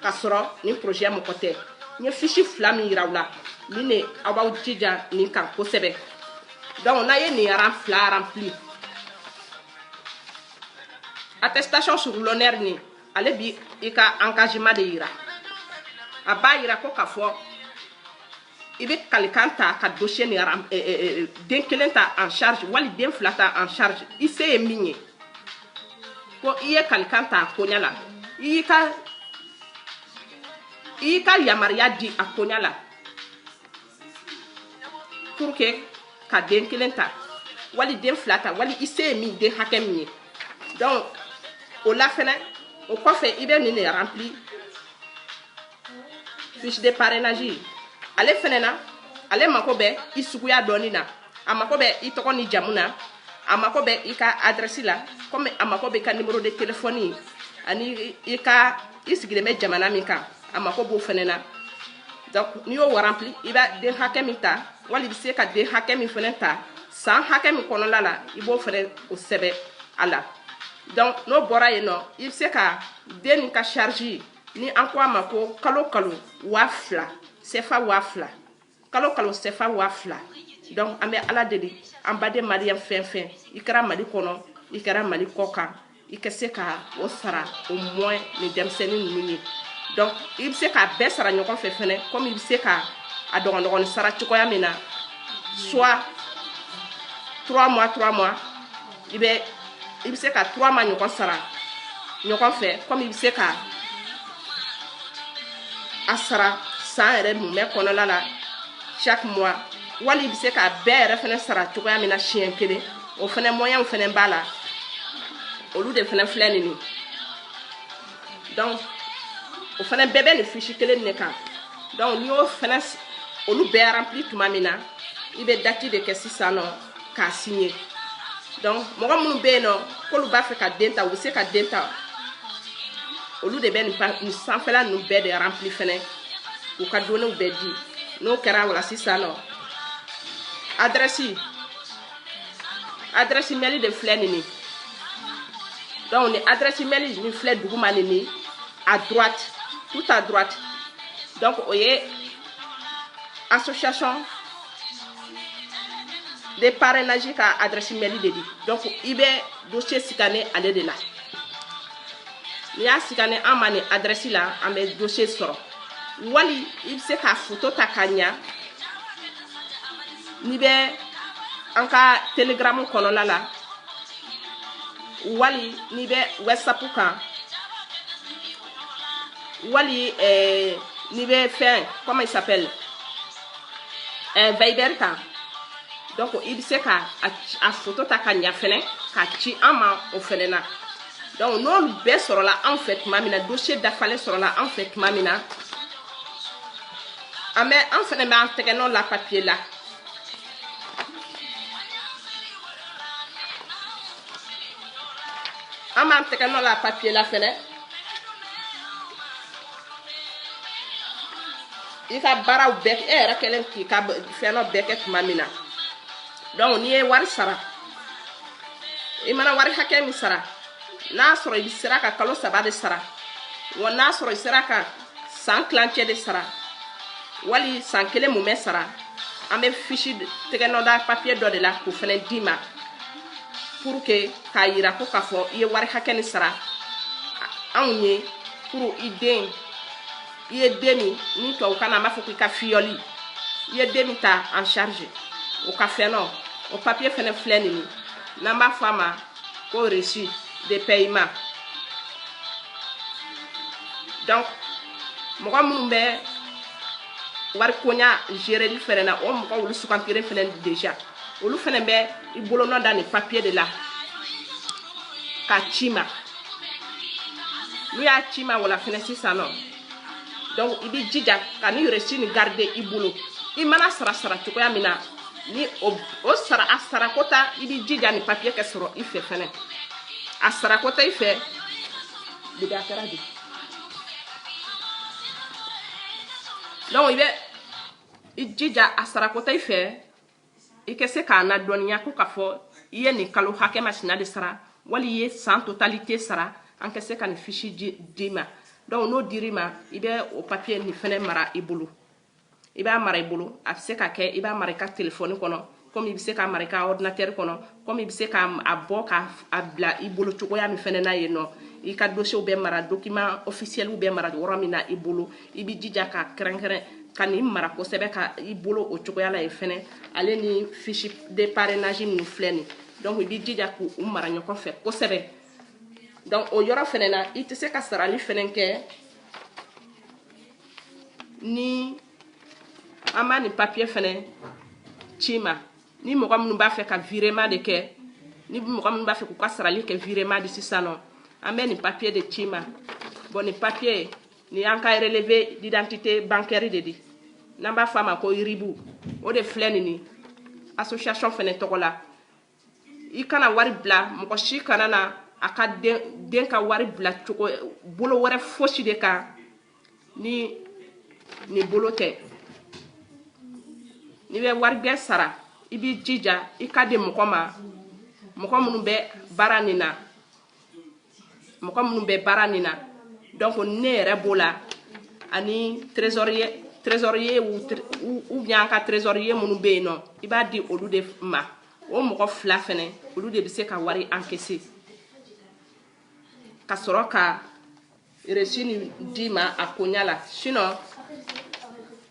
k'a sɔrɔ nin projet mɔgɔ tɛ n ye fiche fila min yira aw la nin de aw b'aw jija nin kan kosɛbɛ donc n'a ye nin aran fila remplir attestation sur l'honneur nin ale b'i ka engagement de yira a b'a yira ko k'a fɔ i bɛ kalikan ta ka dossier nin aram eh, eh, eh, den kelen ta en charge wali den fila ta en charge i se ye min ye ko i ye kalikan ta a koɲa la i y'i ka i y'i ka yamaruya di a koɲa la pour que ka den kelen ta wali den fila ta wali i se ye min den hakɛ min ye donc o la fɛnɛ o kɔfɛ i bɛ nin de rempli fiche de parrainage ale fɛnɛ na ale mako bɛ i suguya dɔɔni na a mako bɛ i tɔgɔ ni jamu na a mako bɛ i ka adrɛsi la komi a mako bɛ i ka numéro de téléphone ani i ka i sigilen bɛ jamana min kan a mako b'o fɛnɛ na donc n'i y'o rempli i bɛ den hakɛ min ta wali i bɛ se ka den hakɛ min fɛnɛ ta san hakɛ min kɔnɔla la i b'o fɛnɛ o sɛbɛ a la donc n'o bɔra yen nɔ i bɛ se ka den nin ka charge ni an ko a ma ko kalo kalo waa fila sɛfa waa fila kalo kalo sɛfa waa fila donc an bɛ ala deli an baden maliyɛn fɛn fɛn i kɛra mali kɔnɔ i kɛra mali kɔ kan i ka se ka o sara au moins ni denmisɛnnin ninnu ye donc i bɛ se k'a bɛɛ sara ɲɔgɔn fɛ fɛnɛ komi i bɛ se ka a dɔgɔdɔgɔnin sara cogoya min na soit trois mois trois mois i bɛ i bɛ se ka trois mois ɲɔgɔn sara ɲɔgɔn fɛ komi i bɛ se ka a sara san yɛrɛ mumɛ kɔnɔla la chaque mois wali i bɛ se k'a bɛɛ yɛrɛ fɛnɛ sara cogoya min na siɲɛ kelen o fɛnɛ moyen fɛnɛ b'a la olu de fɛnɛ filɛ nin ye donc o fɛnɛ bɛɛ bɛ nin fiche kelen de kan donc n'i y'o fɛnɛ olu bɛɛ rempli tuma min na i bɛ dati de kɛ sisan nɔ k'a signer donc mɔgɔ minnu bɛ yen nɔ k'olu b'a fɛ ka den ta u bɛ se ka den ta olu de bɛ nin nin sanfɛla ninnu bɛɛ de rempli fɛnɛ k'u ka données bɛɛ di n'o kɛra o la sisan nɔ adrɛsi adrɛsi mɛli de filɛ nin ye donc ni adrɛsi mɛli nin filɛ duguma nin ye à droite tout à droite donc o ye association de parrainage ka adresse mail de di donc i bɛ dossier scanner ale de la n'i y'a scanner an ma nin adresse la an bɛ dossier sɔrɔ wali i bɛ se ka foto ta ka ɲa n'i bɛ an ka telegram kɔnɔna la wali n'i bɛ whatsapp kan wali eh, n'i bɛ fɛn comment il s'appelle eh, viber kan donc i bɛ se ka a foto ta ka ɲa fɛnɛ k'a ci an ma o fɛnɛ na donc n'olu bɛɛ sɔrɔla anw fɛ tuma min na dossier dafalen sɔrɔla anw fɛ tuma min na an bɛ an fɛnɛ b'an tɛgɛnɔ la papiye la an b'an tɛgɛnɔ la papiye la fɛnɛ i ka baaraw bɛɛ e yɛrɛ kelen k'i ka fɛnɔ bɛɛ kɛ tuma min na donc n'i ye wari sara i mana wari hakɛ min sara n'a sɔrɔ i sera ka kalo saba de sara wa n'a sɔrɔ i sera ka san tilancɛ de sara wali san kelen mumɛ sara an bɛ fiche tɛgɛnɔda papiye dɔ de la k'o fɛnɛ d'i ma pour que k'a yira ko k'a fɔ i ye wari hakɛ nin sara anw ye pour i den i ye den min ni tubabukan na an b'a fɔ ko i ka filleul i ye den min ta en charge o ka fɛnɔ o papiye fɛnɛ filɛ nin ye n'an b'a fɔ a ma ko reçu de paiement donc mɔgɔ minnu bɛ wari koɲa gereli fɛnɛ na o mɔgɔ olu sugantira fɛnɛ déjà olu fɛnɛ bɛ i bolonɔ da nin papiye de la k'a c'i ma n'u y'a c'i ma wala fɛnɛ sisan nɔ donc i b'i jija ka nin reçu nin garder i bolo i mana sara sara cogoya min na ni o, o sara a sarako ta i b'i jija nin papiye kɛ sɔrɔ i fɛ fɛnɛ a sarako ta i fɛ de bɛ a kɛra de donc i bɛ i jija a sarako ta i fɛ i ka se k'a ladɔnniya ko k'a fɔ i ye nin kalo hakɛ masina de sara wali i ye san totalité sara an ka se ka nin fiche d'i ma donc n'o dir'i ma i bɛ o papiye nin fɛnɛ mara i bolo i b'a mara i bolo a bɛ se ka kɛ i b'a mara i ka telefɔni kɔnɔ komi i bɛ se k'a mara i ka ordinatɛri kɔnɔ komi i bɛ se ka a bɔ ka a bila i bolo cogoya min fɛnɛ na yen nɔ i ka dosiyew bɛ mara dokiman ofisiyɛliw bɛ mara yɔrɔ min na i bolo i bɛ jija ka kɛrɛnkɛrɛn ka nin mara kosɛbɛ ka i bolo o cogoya la yen fɛnɛ ale ni fiche de parrainage ninnu filɛ nin donc i bɛ jija k'u mara ɲɔgɔn fɛ kosɛbɛ donc o yɔrɔ fɛnɛ na i tɛ se ka sarali fɛnɛ kɛ ni an ma nin papiye fɛnɛ c'i ma ni mɔgɔ minnu b'a fɛ ka virement de kɛ ni mɔgɔ minnu b'a fɛ k'u ka sarali kɛ virement de sisan nɔ an bɛ nin papiye de c'i ma bon nin papiye nin y'an ka relevé d'identité bancaire de di n'an b'a fɔ a ma ko RIB o de filɛ nin ye association fɛnɛ tɔgɔ la i kana wari bila mɔgɔ si kana na a ka den ka wari bila cogo bolo wɛrɛ fosi de kan ni nin bolo tɛ n'i bɛ warigbɛ sara i b'i jija i k'a di mɔgɔ ma mɔgɔ minnu bɛ baara nin na mɔgɔ minnu bɛ baara nin na donc ne yɛrɛ b'o la ani trésorier ou bien an ka trésorier minnu bɛ yen nɔ i b'a di olu de ma o mɔgɔ fila fɛnɛ olu de bɛ se ka wari encaisser ka sɔrɔ ka reçu nin d'i ma a koɲa la sinon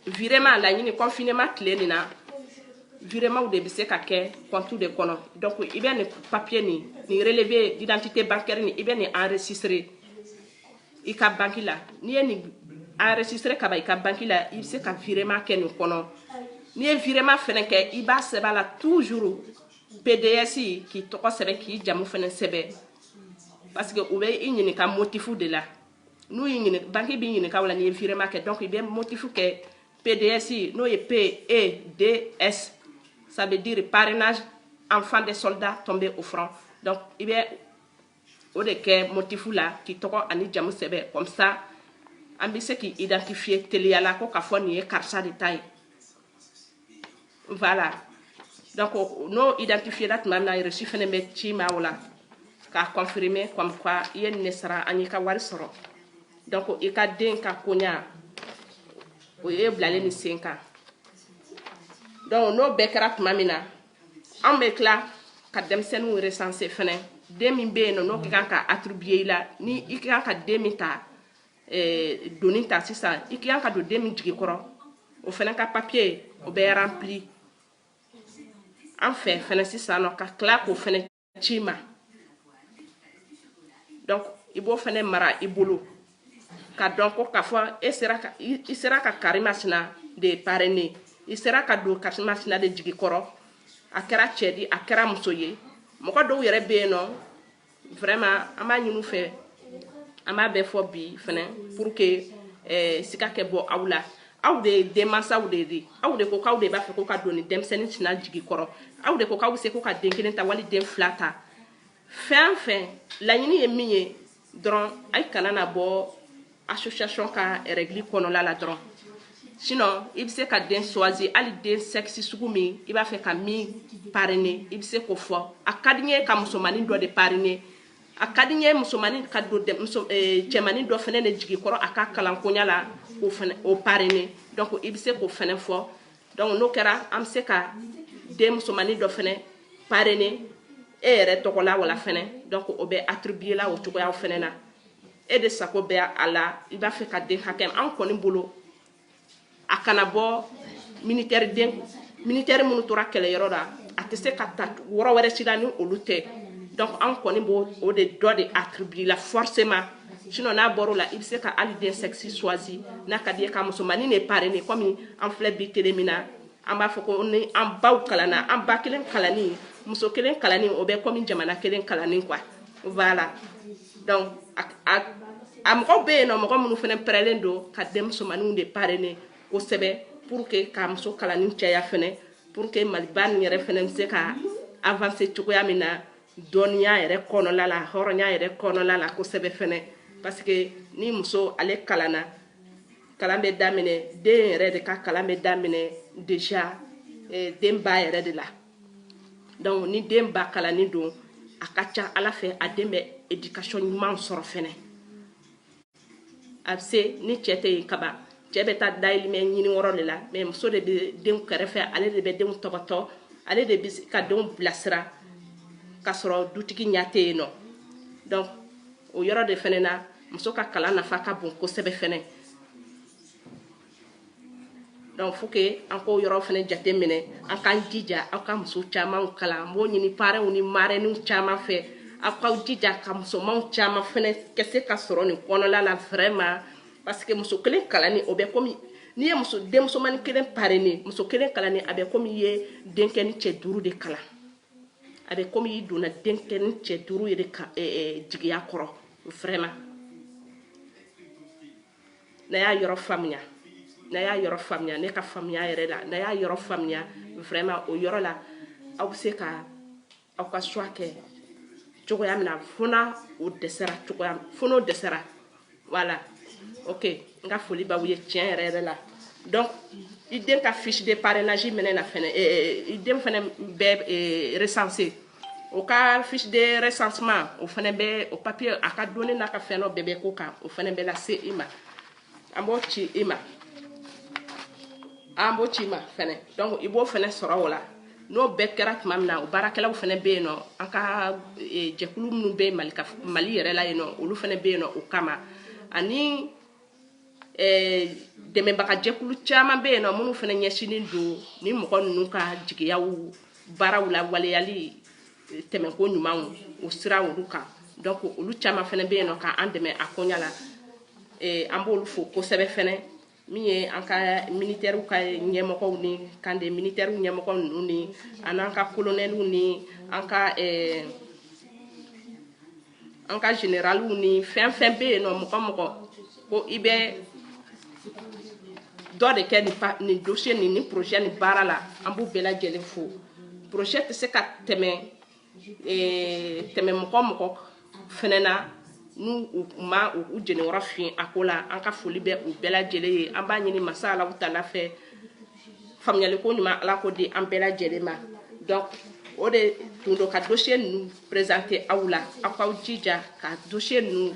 virement laɲini confinement tile nin na virements de bɛ se ka kɛ compte de kɔnɔ donc i bɛ nin papier nin nin relevé d'identité bancaire nin i bɛ nin enregistrer i ka banque la n'i ye nin enregistrer ka ban i ka banque la i bɛ se ka virement kɛ nin kɔnɔ n'i ye virement fɛnɛ kɛ i b'a sɛbɛn a la toujours PDS k'i tɔgɔ sɛbɛn k'i jamu fɛnɛ sɛbɛn parce que u bɛ i ɲininka motif de la n'u y'i ɲininka banque b'i ɲininka o la n'i ye virement kɛ donc i bɛ motif kɛ PDS n'o ye PEDS ça veut dire parrainage enfant des soldats tombés au front donc i bɛ o de kɛ motif la k'i tɔgɔ ani jamu sɛbɛn comme ça an bɛ se k'i identifier teliya la ko k'a fɔ nin ye karisa de ta ye. voilà donc n'o identifié la tuma min na reçu fɛnɛ bɛ ci ma o la k'a confirmer comme quoi i ye nin de sara an y'i ka wari sɔrɔ donc i ka den ka koɲa o ye bilalen ni sen kan donc n'o bɛɛ kɛra tuma min na an bɛ tila ka denmisɛnninw recenser fɛnɛ den min bɛ yen nɔ n'o ka kan ka attribuer i la ni i ka kan ka den min ta doni ta sisan i ka kan ka don den min jigi kɔrɔ o fɛnɛ ka papier o bɛ rempli an fɛ fɛnɛ sisan nɔ ka tila k'o fɛnɛ ci ma donc i b'o fɛnɛ mara i bolo ka dɔn ko k'a fɔ e sera ka i sera ka karimasina de parrainer i sera ka don karimasina de jigi kɔrɔ a kɛra cɛ di a kɛra muso ye mɔgɔ dɔw yɛrɛ bɛ yen nɔ vraiment an b'a ɲini u fɛ an b'a bɛɛ fɔ bi fɛnɛ pour que eh, sika kɛ bɔ aw la aw de ye denmansaw de ye aw de ko k'aw de b'a fɛ ko ka don ni denmisɛnnin tina jigi kɔrɔ aw de ko k'aw bɛ se ko ka den kelen ta wali den fila ta fɛn fɛn laɲini ye min ye dɔrɔn a kana na bɔ association ka règle kɔnɔla la dɔrɔn sinon i bɛ se ka den choisir hali den sexe sugu min i b'a fɛ ka min parrainer i bɛ se k'o fɔ a ka di n ye ka musomanin dɔ de parrainer a ka di n ye musomanin ka don muso eh, cɛmanin dɔ fɛnɛ de jigi kɔrɔ a ka kalankoɲa la o fɛnɛ o parrainer donc i bɛ se k'o fɛnɛ fɔ donc n'o kɛra an bɛ se ka den musomanin dɔ fɛnɛ parrainer e yɛrɛ tɔgɔ la wala fɛnɛ donc o bɛ attribuer la o cogoyaw fɛnɛ na. e de sago bɛ a la i b'a fɛ ka den hakɛ an kɔni bolo a kana bɔ militaire den militaire minnu tora kɛlɛyɔrɔ la a tɛ se ka ta yɔrɔ wɛrɛ si la ni olu tɛ donc an kɔni b'o o de dɔ de attribuer la forcément sinon n'a bɔr'o la i bɛ se ka hali den sexe choisir n'a ka di ye ka musomanin de parrainer comme an filɛ bi tele min na an b'a fɔ ko ni an baw kalanna an ba kelen kalanni muso kelen kalanni o bɛ comme jamana kelen kalanni quoi voilà donc a mɔgɔw bɛ yen nɔ mɔgɔ minnu fɛnɛ pɛrɛlen don ka denmusomaninw de parrainer kosɛbɛ pour que ka muso kalanni caya fɛnɛ pour que maliba nin yɛrɛ fɛnɛ bɛ se ka avancer cogoya min na dɔnniya yɛrɛ kɔnɔla la hɔrɔnya yɛrɛ kɔnɔla la kosɛbɛ fɛnɛ parce que ni muso ale kalanna kalan bɛ daminɛ den yɛrɛ de ka kalan bɛ daminɛ déjà eh, den ba yɛrɛ de la donc ni den ba kalannen don a ka ca ala fɛ a den bɛ éducation ɲuman sɔrɔ fɛnɛ a bɛ se ni cɛ tɛ yen kaban cɛ bɛ taa dayirimɛ ɲini yɔrɔ de la mais muso de bɛ denw kɛrɛfɛ ale de bɛ denw tɔpɔtɔ ale de bɛ ka denw bilasira k'a sɔrɔ dutigi ɲɛ tɛ yen nɔ donc o yɔrɔ de fɛnɛ na muso ka kalan nafa ka bon kosɛbɛ fɛnɛ donc faut que an k'o yɔrɔ fɛnɛ jateminɛ an k'an jija an ka muso caman kalan n b'o ɲini parrains ni marraines caman fɛ aw k'aw jija ka musomanw caman fɛnɛ kɛ se ka sɔrɔ nin kɔnɔla la vraiment parce que muso kelen kalanni o bɛ komi n'i ye muso denmusomani kelen parrainer muso kelen kalanni a bɛ komi i ye denkɛ ni cɛ duuru de kalan a bɛ komi i donna denkɛ ni cɛ duuru yɛrɛ ka eh, eh, jigiya kɔrɔ vraiment n'a y'a yɔrɔ faamuya n'a y'a yɔrɔ faamuya ne ka faamuya yɛrɛ la n'a y'a yɔrɔ faamuya vraiment o yɔrɔ la aw bɛ se ka aw ka choix kɛ cogoya min na fo na fo n'o dɛsɛra voilà ok n ka foli b'aw ye tiɲɛ yɛrɛ yɛrɛ la donc i den ka fiche de parrainage minɛ na fɛnɛ i den fɛnɛ bɛ recenser o ka fiche de recensement o fɛnɛ bɛ o papier a ka données n'a ka fɛn dɔ bɛɛ bɛ k'o kan o fɛnɛ bɛ lase i ma an b'o ci i ma an b'o ci i ma fɛnɛ donc i b'o fɛnɛ sɔrɔ o la n'o bɛɛ kɛra tuma min na o baarakɛlaw fɛnɛ bɛ yen nɔ an ka jɛkulu minnu bɛ mali mali yɛrɛ la yen nɔ olu fɛnɛ bɛ yen nɔ o kama ani eh, dɛmɛbagajɛkulu caman bɛ yen nɔ minnu fɛnɛ ɲɛsinnen don ni mɔgɔ ninnu ka jigiyaw baaraw la waleyali eh, dɛmɛko ɲumanw o sira olu kan donc olu caman fɛnɛ bɛ yen nɔ k'an dɛmɛ a koɲa la eh, an b'olu fo kosɛbɛ fɛnɛ min ye an ka militaires ka ɲɛmɔgɔw ni camp de militaires ɲɛmɔgɔ ninnu ni an an ka kolonɛliw ni an ka eh, an ka jeneraliw ni fɛn fɛn bɛ yen nɔ mɔgɔ mɔgɔ ko i bɛ dɔ de kɛ nin dossier nin ni projet nin baara la an b'u bɛɛ lajɛlen fo projet tɛ se ka tɛmɛ tɛmɛ mɔgɔ mɔgɔ fɛnɛ na n'u u ma u jeniyɔrɔ fin a ko la an ka foli bɛ u bɛɛ lajɛlen ye an b'a ɲini masa alahu taala fɛ faamuyali ko ɲuman ala k'o di an bɛɛ lajɛlen ma donc o de tun don ka dossier ninnu présenter aw la aw k'aw jija ka dossier ninnu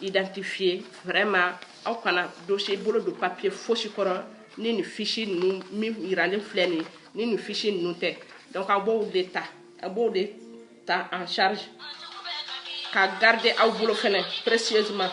identifier vraiment aw kana dossier bolo don papier fosi kɔrɔ ni nin fiche ninnu min yiralen filɛ nin ni nin fiche ninnu tɛ donc aw b'o de ta en charge ka garder aw bolo fɛnɛ précieusement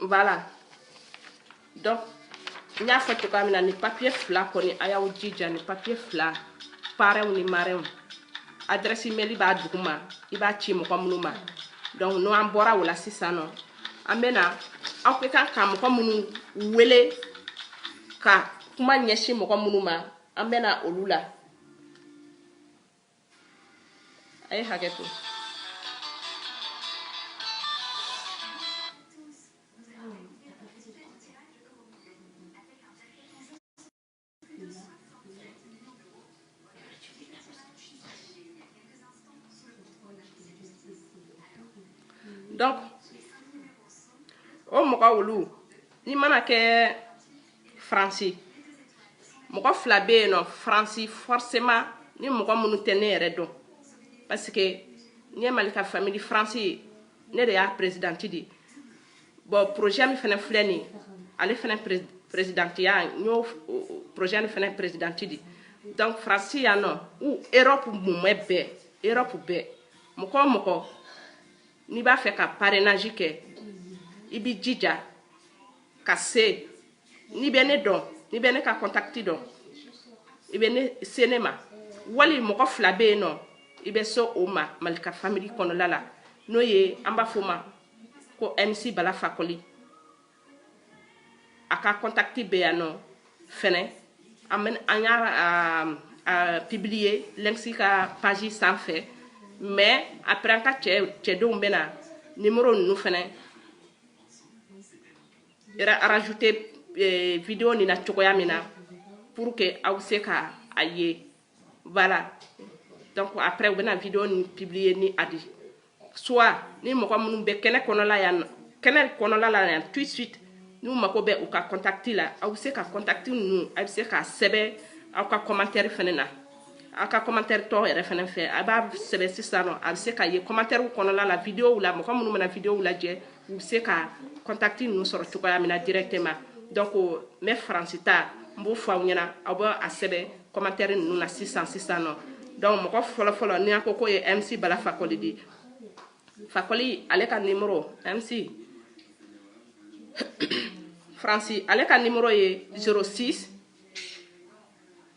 voilà donc n y'a fɔ cogoya min na ni papier fila kɔni a y'aw jija ni papier fila parrainw ni marrainew adresse mail b'a duguma i b'a ci mɔgɔ minnu ma donc n'o an bɔra o la sisan nɔ an bɛna aw ka kan ka mɔgɔ minnu wele ka kuma ɲɛsin mɔgɔ minnu ma an bɛ na olu la a ye hakɛ to donc o mɔgɔ olu n'i mana kɛ faransi mɔgɔ fila bɛ yen nɔ faransi forcément ni mɔgɔ minnu tɛ ne yɛrɛ dɔn parce que ne ye malika famille faransi ne de y'a présidente di bon projet min fana filɛ nin ale fana présidentiya n y'o projet nin fana présidente di donc faransi yan nɔ ou erɔpu mumɛ bɛɛ erɔpu bɛɛ mɔgɔ o mɔgɔ n'i b'a fɛ ka parrainage kɛ i b'i jija ka se n'i bɛ ne dɔn n'i bɛ ne ka contact dɔn i bɛ ne se ne ma wali mɔgɔ fila bɛ yen nɔ i bɛ se o ma malika famille kɔnɔla la n'o ye an b'a fɔ o ma ko mc bala fakɔli a ka contact bɛ yan nɔ fɛnɛ an y'a publier mc ka page sanfɛ mais après an ka cɛdenw bɛna numéro ninnu fɛnɛ rajouter eh, vidéo nin na cogoya min na pour que aw se ka a ye voilà donc après u bɛna vidéo nin publier ni a di soit ni mɔgɔ minnu bɛ kɛnɛ kɔnɔla yan kɛnɛ kɔnɔla la yan tout de suite n'u mago bɛ u ka contact la aw bɛ se ka contact ninnu aw bɛ se k'a sɛbɛn aw ka commentaire fɛnɛ na a ka commentaire tɔ yɛrɛ fɛnɛ fɛ a b'a sɛbɛn sisan nɔ a bɛ se k'a ye commentaire kɔnɔna la videow la mɔgɔ minnu bɛna videow lajɛ u bɛ se ka contact ninnu sɔrɔ cogoya min na directement donc n bɛ faransi ta n b'o fɔ aw ɲɛna aw bɛ a sɛbɛn commentaire ninnu na sisan sisan nɔ donc mɔgɔ fɔlɔ fɔlɔ ni an ko k'o ye MC Bala Fakoli di Fakoli ale ka numéro MC Fransi ale ka numéro ye 06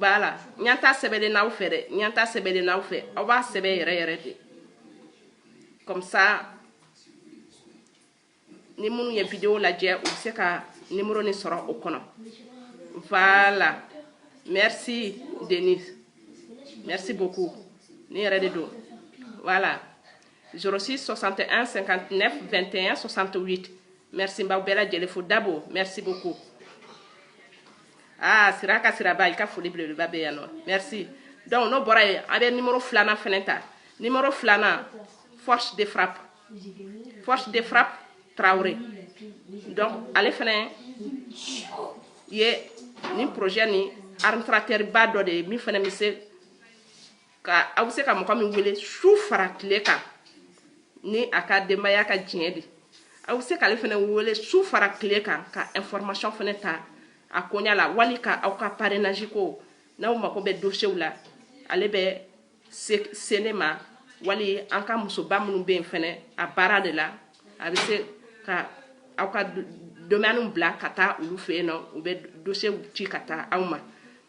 voilà ɲanta sɛbɛlen n'aw fɛ dɛ ɲanta sɛbɛlen n'aw fɛ aw b'a sɛbɛ yɛrɛ yɛrɛ de comme ça ni minnu ye video lajɛ u bɛ se ka nimoro ni sɔrɔ o kɔnɔ voilà merci denise merci beaucoup ne yɛrɛ de don voilà 06 61 59 21 68 merci n b'aw bɛɛ lajɛlen fo dabo merci beaucoup ah siraka siraba i ka foli belebeleba bɛ yan nɔ merci donc n'o bɔra yen an bɛ nimoro filanan fɛnɛ ta nimoro filanan force de frappe force de frappe tarawele donc ale fɛnɛ ye nin projet ni administrateurba dɔ de ye min fɛnɛ bɛ se ka aw bɛ se ka mɔgɔ min wele su fara tile kan ni a ka denbaya ka diɲɛ de aw bɛ se k'ale fɛnɛ wele su fara tile kan ka information fɛnɛ ta a koɲa la wali ka aw ka parrainage ko n'aw mako bɛ dossiers la ale bɛ se ne ma wali an ka musoba minnu bɛ yen fɛnɛ a baara de la a bɛ se ka aw ka demande bila ka taa olu fɛ yen nɔ u bɛ dossiers ci ka taa aw ma.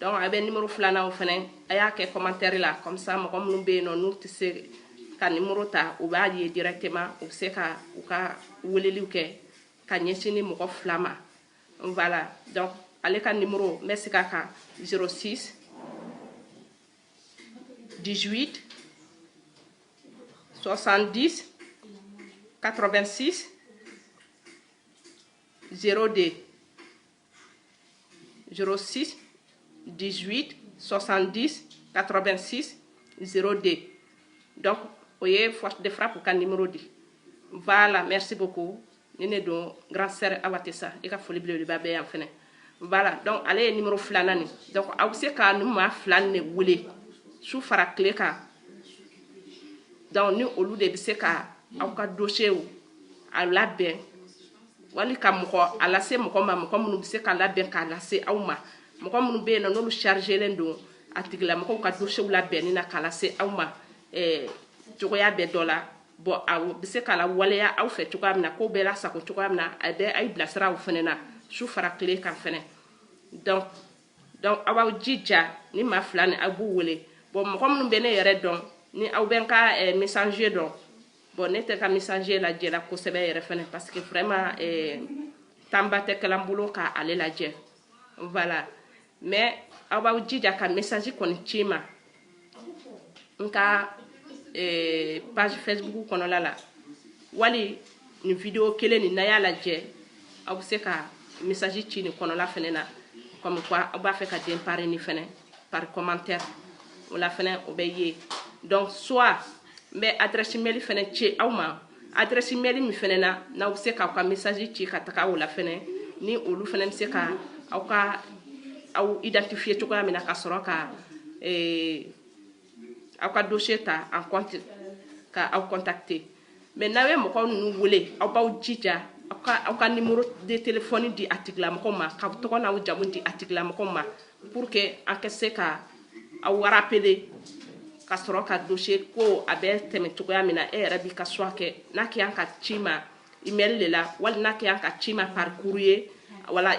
donc a bɛ nimoro filanan o fɛnɛ a y'a kɛ commentaire la comme ça mɔgɔ minnu bɛ yen nɔ n'u tɛ se ka nimoro ta u b'a ye directement u bɛ se ka u ka weleliw kɛ ka ɲɛsin nin mɔgɔ fila ma voilà donc ale ka nimoro n bɛ segin a kan 06 18 70 86 02 06 18 70 86 02 donc o ye force de frappe ka numéro di voilà merci beaucoup ni ne don grand sœur awa tesa i ka foli belebeleba bɛ yan fɛnɛ voilà donc ale ye numéro filanan ni donc aw bɛ se ka nin maa fila nin de wele su fara tile kan donc ni olu de bɛ se ka aw ka dossier a labɛn wali ka mɔgɔ a lase mɔgɔ ma mɔgɔ minnu bɛ se k'a labɛn k'a lase aw ma mɔgɔ minnu bɛ yen nɔ n'olu chargelen don a tigilamɔgɔw ka dossierw labɛnni na k'a lase aw ma eh, cogoya bɛɛ dɔ la bon a bɛ se k'a lawaleya aw fɛ cogoya min na k'o bɛɛ lasago cogoya min na a bɛ aw bilasira aw fɛnɛ na su fara tile kan fɛnɛ donc donc aw b'aw jija nin maa fila nin aw b'u wele bon mɔgɔ minnu bɛ ne yɛrɛ dɔn ni aw bɛ n ka eh, messenger dɔn Bon ne tɛ ka message lajɛla kosɛbɛ yɛrɛ fɛnɛ parce que vraiment eh, temps ba tɛ kɛla n bolo ka ale lajɛ voilà mais aw b'aw jija ka message kɔni ci n ma n ka eh, page facebook kɔnɔla la wali nin video kelen nin n'aw y'a lajɛ aw bɛ se ka message ci nin kɔnɔla fɛnɛ na comme quoi aw b'a fɛ ka den parrainer fɛnɛ par commentaire o la fɛnɛ o bɛ ye donc soit n bɛ adresse mail fɛnɛ ci aw ma adresse mail min fɛnɛ na n'aw bɛ se k'aw ka message ci ka taga o la fɛnɛ ni olu fɛnɛ bɛ se ka aw ka aw identifier cogoya min na ka sɔrɔ ka eh, aw ka dossier ta en compte ka aw contacter mais n'aw ye mɔgɔ ninnu wele aw b'aw jija aw ka aw ka numéro de téléphone di a tigilamɔgɔw ma k'aw tɔgɔ n'aw jamu di a tigilamɔgɔw ma pour que an ka se ka aw rappeler ka sɔrɔ ka dossier ko a bɛ tɛmɛ cogoya min na e yɛrɛ b'i ka choix kɛ n'a kɛ y'an k'a ci i ma email de la wali n'a kɛ y'an k'a ci i ma par courrier voilà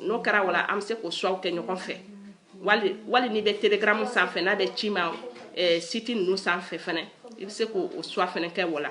n'o kɛra voilà an bɛ se k'o choix kɛ ɲɔgɔn fɛ wali wali n'i bɛ telegram sanfɛ n'a bɛ ci i ma eh, site ninnu sanfɛ fɛnɛ i bɛ se k'o choix fɛnɛ kɛ voilà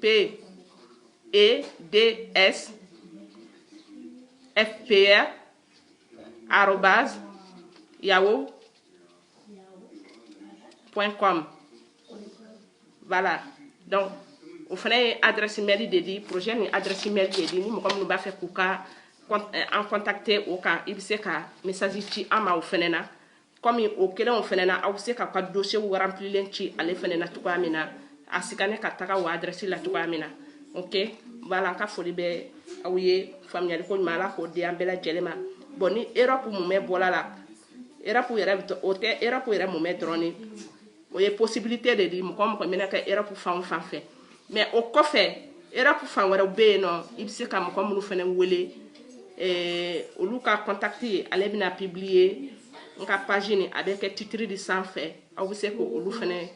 P, E, D, S, FPR, arrobase, yahoo, point com. Voilà. Donc, o fɛnɛ ye adresse mail de di projet nin adresse mail de di ni mɔgɔ minnu b'a fɛ k'u ka an contacter o kan i bɛ se ka message ci an ma o fɛnɛ na kɔmi o kelenw fɛnɛ na aw bɛ se ka ka dossierw remplilen ci ale fɛnɛ na cogoya min na a scanner ka taga o adresse la cogoya min na ok voilà an ka foli bɛ aw ye faamuyali ko ɲuman ala k'o di an bɛɛ lajɛlen ma bon ni Europe mumɛ bɔla la Europe yɛrɛ o tɛ Europe yɛrɛ mumɛ dɔrɔn ni o ye possibilité de di mɔgɔ o mɔgɔ bɛna kɛ Europe fan o fan fɛ mais o kɔfɛ Europe fan wɛrɛw bɛ yen nɔ i bɛ se ka mɔgɔ minnu fɛnɛ wele eh, olu ka contact ale bɛna publier n ka page nin a bɛ kɛ titre de sanfɛ aw bɛ se k'olu fɛnɛ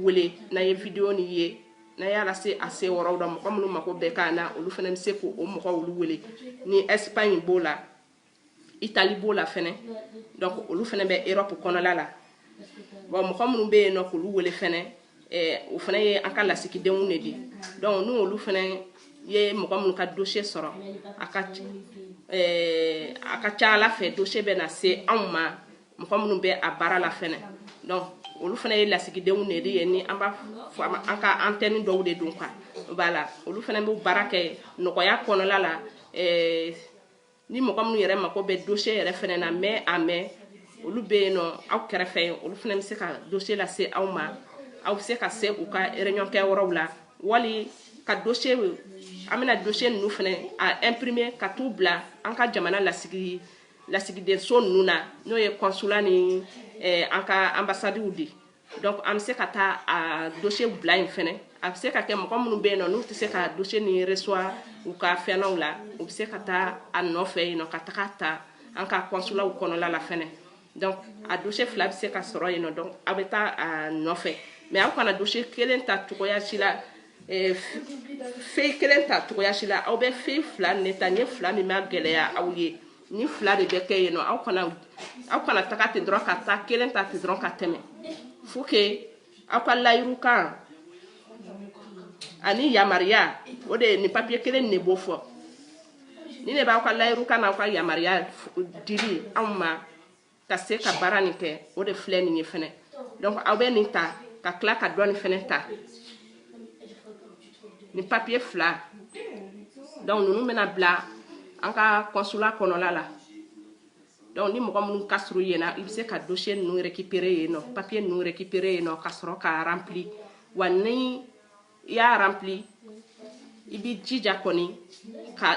wele n'aw ye video nin ye n'aw y'a lase a seyɔrɔw la mɔgɔ minnu mako bɛ k'a na olu fɛnɛ bɛ se k'o mɔgɔ olu wele ni Espagne b'o la itali b'o la fɛnɛ donc olu fɛnɛ bɛ europe kɔnɔla la bon mɔgɔ minnu bɛ yen nɔ k'olu wele fɛnɛ eh, o fɛnɛ ye an ka lasigidenw de di donc n'u olu fɛnɛ ye mɔgɔ minnu ka dossier sɔrɔ a ka eh, a ka ca a la fɛ dossier bɛ na se anw ma mɔgɔ minnu bɛ a baara la fɛnɛ donc olu fɛnɛ ye lasigidenw de ye ni an b'a fɔ an ka antɛni dɔw de don quoi voilà olu fɛnɛ bɛ baara kɛ nɔgɔya kɔnɔla la eh, ni mɔgɔ minnu yɛrɛ mako bɛ dosiye yɛrɛ fana na mɛ a mɛ olu bɛ yen nɔ aw kɛrɛfɛ yen olu fana bɛ se ka dosiye lase aw ma aw bɛ se ka se u ka réunion kɛ yɔrɔw la wali ka dosiye an bɛna dosiye ninnu fana a ɛnprime ka t'u bila an ka jamana lasigi lasigidenso ninnu na n'o ye kɔnsula ni eh, an ka anbasadiw di donc an bɛ se ka taa a dossier bila yen fɛnɛ a bɛ se ka kɛ mɔgɔ minnu bɛ yen nɔ n'u tɛ se ka dossier nin reçoit u ka fɛnw la u bɛ se ka taa a nɔfɛ yen nɔ ka taga ta an ka kɔnsulaw kɔnɔla la fɛnɛ donc a dossier fila bɛ se ka sɔrɔ yen nɔ donc a bɛ taa a nɔfɛ mais aw kana dossier kelen ta cogoya si la eh, feuille kelen ta cogoya si la aw bɛ feuille fila ne ta n ye fila min magɛlɛya aw ye ni fila de bɛ kɛ yen nɔ aw kana aw kana taga ten dɔrɔn ka taa kelen ta ten dɔrɔn ka tɛmɛ faut que aw ka layiru kan ani yamaruya o de ye nin papiye kelen ne b'o fɔ nin ne b'aw ka layiru kan n'aw ka yamaruya dili anw ma ka se ka baara nin kɛ o de filɛ nin ye fɛnɛ donc aw bɛ nin ta ka tila ka dɔ nin fɛnɛ ta nin papiye fila donc ninnu bɛna bila an ka kɔnsula kɔnɔla la donc ni mɔgɔ minnu ka surun yen na i bɛ se ka dosiye ninnu récupérer yen nɔ papiye ninnu récupérer yen nɔ ka sɔrɔ k'a rempli wa ni i y'a rempli i b'i jija kɔni k'a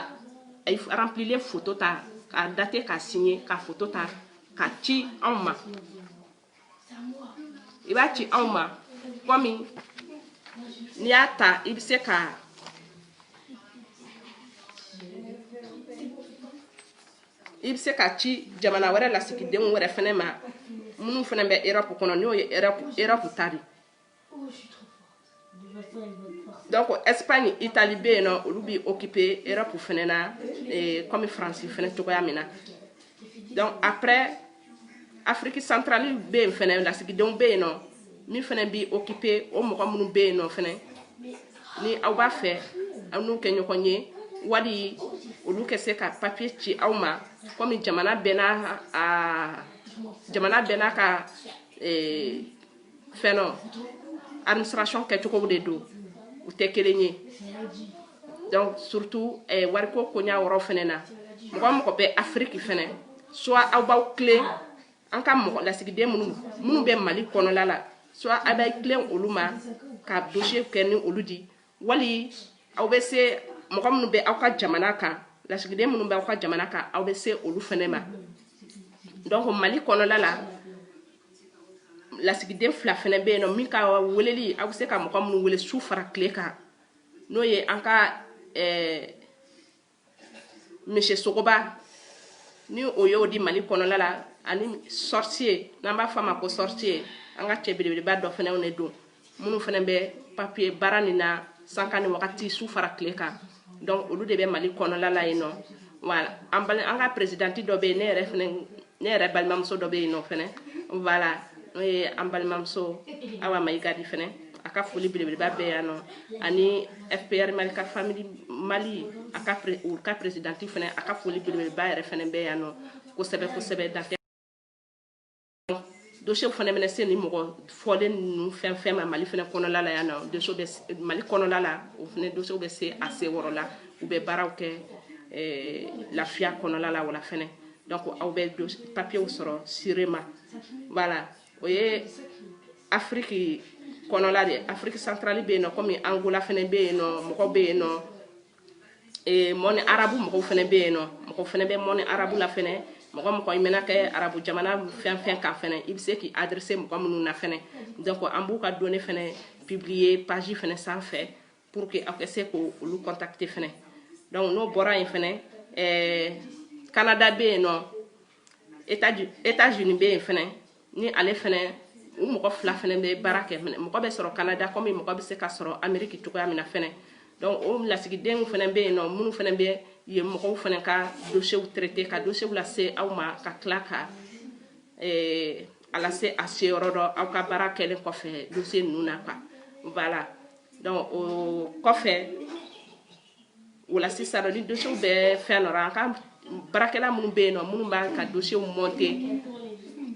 remplilen foto ta k'a date k'a signe ka foto ta k'a ci anw ma i b'a ci anw ma kɔmi n'i y'a ta i bɛ se ka i bɛ se ka ci jamana wɛrɛ lasigidenw wɛrɛ fɛnɛ ma minnu fɛnɛ bɛ erɔpu kɔnɔ n'o ye erɔpu ta di Donc, Espagne, Italie, bɛ yen nɔ, olu b'i occuper Europe fɛnɛ na, eh, comme France fɛnɛ cogoya min na. Donc après, Afrique centrale bɛ yen fɛnɛ, lasigidenw bɛ yen nɔ, min fɛnɛ b'i occuper o mɔgɔ minnu bɛ yen nɔ fɛnɛ, ni aw b'a fɛ, aw n'u kɛ ɲɔgɔn ye, wali olu kɛ se ka papier ci aw ma, komi jamana bɛɛ n'a a jamana bɛɛ n'a ka eh, fɛnɔ administration kɛcogow de don u tɛ kelen ye donc surtout eh, wariko koɲa yɔrɔ fɛnɛ na mɔgɔ mɔgɔ bɛ afiriki fɛnɛ soit aw b'aw tilen an ka mɔgɔ lasigiden minnu minnu bɛ mali kɔnɔla la soit aw b'aw tilen olu ma ka dossier kɛ ni olu di wali aw bɛ se mɔgɔ minnu bɛ aw ka jamana kan lasigiden minnu bɛ aw ka jamana kan aw bɛ se olu fɛnɛ ma donc mali kɔnɔla la lasigiden fila fɛnɛ bɛ yen nɔ min ka weleli aw bɛ se ka mɔgɔ minnu wele su fara tile kan n'o ye an ka eh, monsieur sogoba ni o y'o di mali kɔnɔla la ani sorcier n'an b'a fɔ a ma ko sorcier an ka cɛ belebeleba dɔ fɛnɛw ne don minnu fɛnɛ bɛ papiye baara nin na sanga ni wagati su fara tile kan donc olu de bɛ mali kɔnɔla la yen nɔ voilà an ka presidenti dɔ bɛ yen ne yɛrɛ fɛnɛ ne yɛrɛ balimamuso dɔ bɛ yen nɔ fɛnɛ voilà n'o ye an balimamuso awa mayiga di fɛnɛ a ka foli belebeleba bɛ yan nɔ ani fpr mali ka famili mali a ka u ka peresidanti fɛnɛ a ka foli belebeleba yɛrɛ fɛnɛ bɛ yan nɔ kosɛbɛ kosɛbɛ dan tɛ Dossier fana bɛna se nin mɔgɔ fɔlen ninnu fɛn fɛn ma Mali fana kɔnɔla la yan nɔ dossier bɛ se Mali kɔnɔla la o fana dossier bɛ se a seyɔrɔ la u bɛ baaraw kɛ eh, lafiya kɔnɔla la wala fana donc aw bɛ papiers sɔrɔ sûrement voilà o ye Afrique kɔnɔla de ye Afrique centrale bɛ yen nɔ comme Angola fana bɛ yen nɔ mɔgɔ bɛ yen nɔ monde arabe mɔgɔw fana bɛ yen nɔ mɔgɔ fana bɛ monde arabe la fana mɔgɔ mɔgɔ i mɛna kɛ arabu jamana fɛn fɛn kan fana i bɛ se k'i adresser mɔgɔ minnu na fana donc an b'u ka données fana publier page fana sanfɛ pour que aw ka se k'olu contacter fana donc n'o bɔra yen fana Canada bɛ yen nɔ états unis bɛ yen fɛnɛ ni ale fɛnɛ u mɔgɔ fila fɛnɛ bɛ baara kɛ fɛnɛ mɔgɔ bɛ sɔrɔ canada kɔmi mɔgɔ bɛ se ka sɔrɔ ameriki cogoya min na fɛnɛ donc o lasigidenw fɛnɛ bɛ yen nɔ minnu fɛnɛ bɛ yen mɔgɔw fɛnɛ ka dosiyew traiter ka dosiyew lase aw ma ka tila ka eh, a lase a seyɔrɔ dɔ aw ka baara kɛlen kɔfɛ dosiye ninnu na quoi voilà donc o kɔfɛ voilà sisan nɔ ni dosiyew bɛ fɛn dɔ la an ka baarakɛla minnu bɛ yen nɔ minnu b'an ka dosiyew mɔnte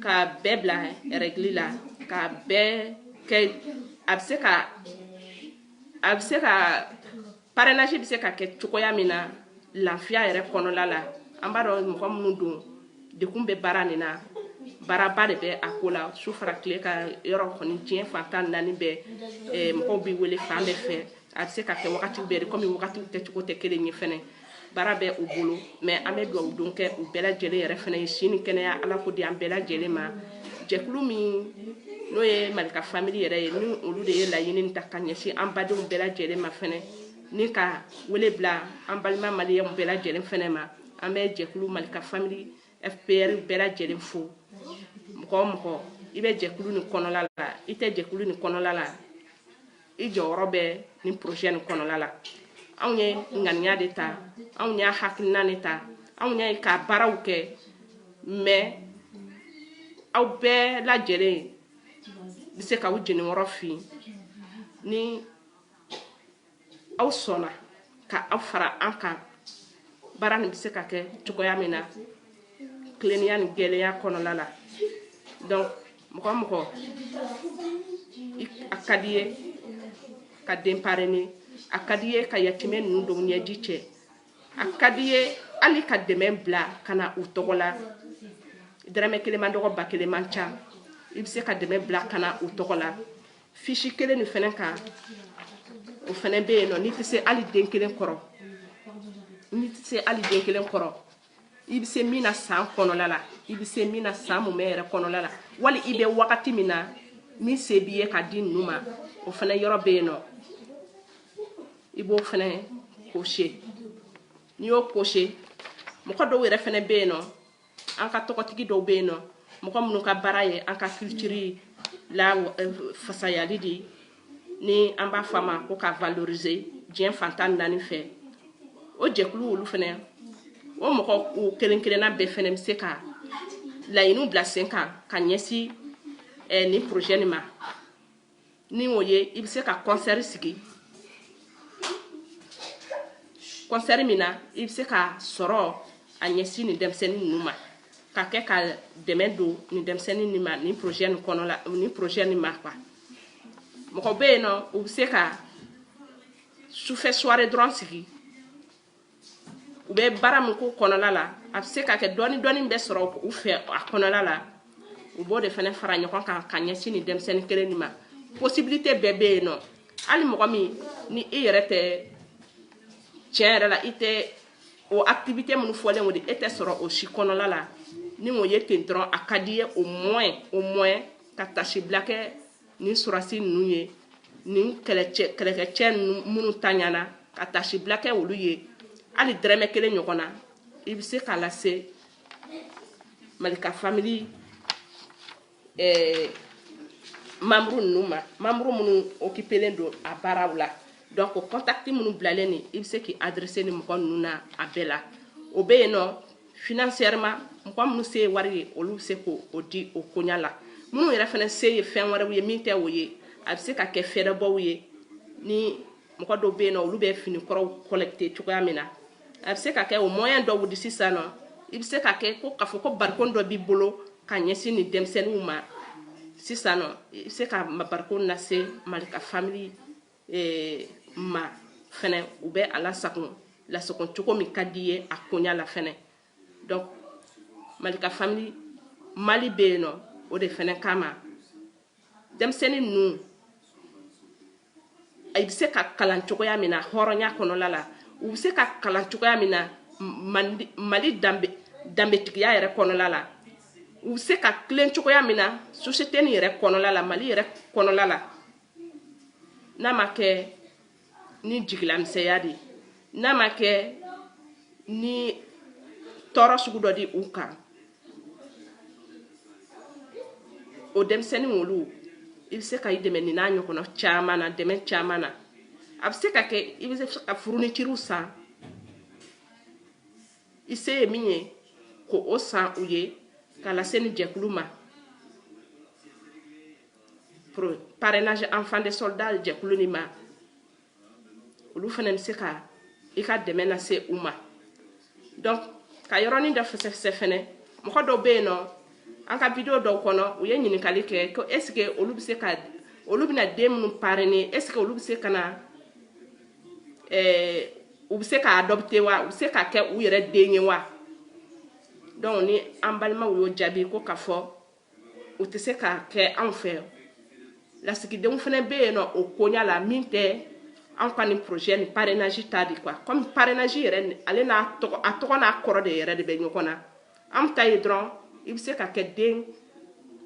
ka bɛɛ bila rɛgili la ka bɛɛ kɛ a bɛ se ka a bɛ se ka parrainage bɛ se ka kɛ cogoya min na lafiya yɛrɛ kɔnɔla la an b'a dɔn mɔgɔ minnu don de kun bɛ baara nin na baaraba de bɛ a ko la su fara tile kan yɔrɔ kɔni diɲɛ fan tan naani bɛɛ mɔgɔw bɛ wele fan bɛɛ fɛ a bɛ se ka kɛ wagatiw bɛɛ de kɔmi wagatiw kɛcogo tɛ kelen ye fɛnɛ baara bɛ u bolo mais an bɛ dugawu don kɛ u bɛɛ lajɛlen yɛrɛ fana ye si ni kɛnɛya ala k'o di an bɛɛ lajɛlen ma jɛkulu min n'o ye malika famille yɛrɛ ye ni olu de ye laɲini ta ka ɲɛsin an badenw bɛɛ lajɛlen ma fɛnɛ ni ka wele bila an balima maliyɛnw bɛɛ lajɛlen fɛnɛ ma an bɛ jɛkulu malika famille fpr bɛɛ lajɛlen fo mɔgɔ mɔgɔ i bɛ jɛkulu nin kɔnɔla la i tɛ jɛkulu nin kɔnɔla la i jɔyɔrɔ bɛ nin projet nin kɔnɔla la anw ye ŋaniya de ta anw y'a hakilina de ta anw y'a ka baaraw kɛ mais aw bɛɛ lajɛlen bɛ se k'aw jeniyɔrɔ fin ni aw sɔnna ka aw fara an kan baara nin bɛ se ka kɛ cogoya min na tilennenya ni jɛlenya kɔnɔla la donc mɔgɔ mɔgɔ a ka di ye ka den parrainer a ka di ye ka yatimɛ ninnu dɔw ɲɛji cɛ a ka di ye hali ka dɛmɛ bila ka na u tɔgɔ la dɛrɛmɛ kelen man dɔgɔ ba kelen man ca i bɛ se ka dɛmɛ bila ka na u tɔgɔ la fiche kelen nin fɛnɛ kan o fɛnɛ bɛ yen nɔ n'i tɛ se hali den kelen kɔrɔ i bɛ se min na san kɔnɔla la i bɛ se min na san mumɛ yɛrɛ kɔnɔla la wali i bɛ wagati min na min se b'i ye ka di ninnu ma o fɛnɛ yɔrɔ bɛ yen nɔ i b'o fɛnɛ cocher n'i y'o cocher mɔgɔ dɔw yɛrɛ fɛnɛ bɛ yen nɔ an ka tɔgɔtigi dɔw bɛ yen nɔ mɔgɔ minnu ka baara ye an ka culture la fasayali de ye ni an b'a fɔ a ma ko ka valoriser diɲɛ fan tan ni naani fɛ o jɛkulu olu fana o mɔgɔw kelen kelenna bɛɛ fana bɛ se ka laɲiniw bila sen kan ka ɲɛsin eh, nin projet nin ma ni o ye i bɛ se ka concert sigi concert min na i bɛ se ka sɔrɔ a ɲɛsin nin denmisɛnnin ninnu ma ka kɛ ka dɛmɛ don nin denmisɛnnin nin ma nin projet nin kɔnɔ la nin projet nin ma quoi mɔgɔ bɛ yen nɔ u bɛ se ka sufɛ soirée dɔrɔn sigi u bɛ baara min k'o kɔnɔla la a bɛ se ka kɛ dɔɔni dɔɔni bɛ sɔrɔ u fɛ a kɔnɔla la u b'o de fana fara ɲɔgɔn kan ka ɲɛsin nin denmisɛnnin kelen nin ma possibilité bɛɛ bɛ yen nɔ hali mɔgɔ min ni i yɛrɛ tɛ tiɲɛ yɛrɛ la i tɛ o activité minnu fɔlen o de e tɛ sɔrɔ o si kɔnɔla la ni o ye ten dɔrɔn a ka di ye au moins au moins ka tasibila kɛ nin sɔrɔdasi ninnu ye nin kɛlɛkɛcɛ minnu taɲana ka tasibila kɛ olu ye hali dɛrɛmɛ kelen ɲɔgɔn na i bɛ se k'a lase malika famili eh, membre ninnu ma membre minnu occupelen don a baaraw la donc o kɔntakiti minnu bilalen nin i bɛ se k'i adresser ni mɔgɔ ninnu na a bɛɛ la o bɛ yen nɔ financièrement mɔgɔ minnu se ye wari ye olu bɛ se k'o di o koɲa la minnu yɛrɛ fana se ye fɛn wɛrɛw ye min tɛ o ye a bɛ se ka kɛ fɛɛrɛbɔw ye ni mɔgɔ dɔw bɛ yen nɔ olu bɛ fini kɔrɔw collecter cogoya min na a bɛ se ka kɛ o moyen dɔw di sisan nɔ i bɛ se ka kɛ ko k'a fɔ ko barikon dɔ b'i bolo ka ɲɛsin nin denmisɛnninw ma sisan nɔ i bɛ se ka barikon lase malika famili ee ma fɛnɛ u bɛ a lasagon lasagon cogo min ka di ye a koɲa la fɛnɛ donc malika famili mali bɛ yen nɔ o de fɛnɛ kama denmisɛnnin ninnu i bɛ se ka kalan cogoya min na hɔrɔnya kɔnɔla la u bɛ se ka kalan cogoya min na mali danbe danbetigiya yɛrɛ kɔnɔla la u bɛ se ka tilen cogoya min na société nin yɛrɛ kɔnɔla la mali yɛrɛ kɔnɔla la n'a ma kɛ ni jigilamisɛnya di n'a ma kɛ ni tɔɔrɔ sugu dɔ di u kan o denmisɛnnin olu i bɛ se ka i dɛmɛ nin n'a ɲɔgɔnna caman na dɛmɛ caman na a bɛ se ka kɛ i bɛ se ka fournitures san i se ye min ye k'o san u ye k'a lase nin jɛkulu ma pour parrainage enfant de soldat jɛkulu nin ma olu fana bɛ se ka i ka dɛmɛ lase u ma donc ka yɔrɔnin dɔ fɛsɛfɛsɛ fɛnɛ mɔgɔ dɔw bɛ yen nɔ an ka video dɔw kɔnɔ u ye ɲininkali kɛ ko est ce que olu bɛ se ka olu bɛna den minnu parrainer est ce que olu bɛ se ka na ɛɛ u bɛ se ka adopter wa u bɛ se ka kɛ u yɛrɛ den ye wa donc ni an balimaw y'o jaabi ko k'a fɔ u tɛ se ka kɛ anw fɛ lasigidenw fana bɛ yen nɔ o koɲa la min tɛ anw ka nin projet ni parrainage ta di quoi comme parrainage yɛrɛ ale n'a tɔgɔ a tɔgɔ n'a kɔrɔ de yɛrɛ de bɛ ɲɔgɔn na anw ta ye dɔrɔn i bɛ se ka kɛ den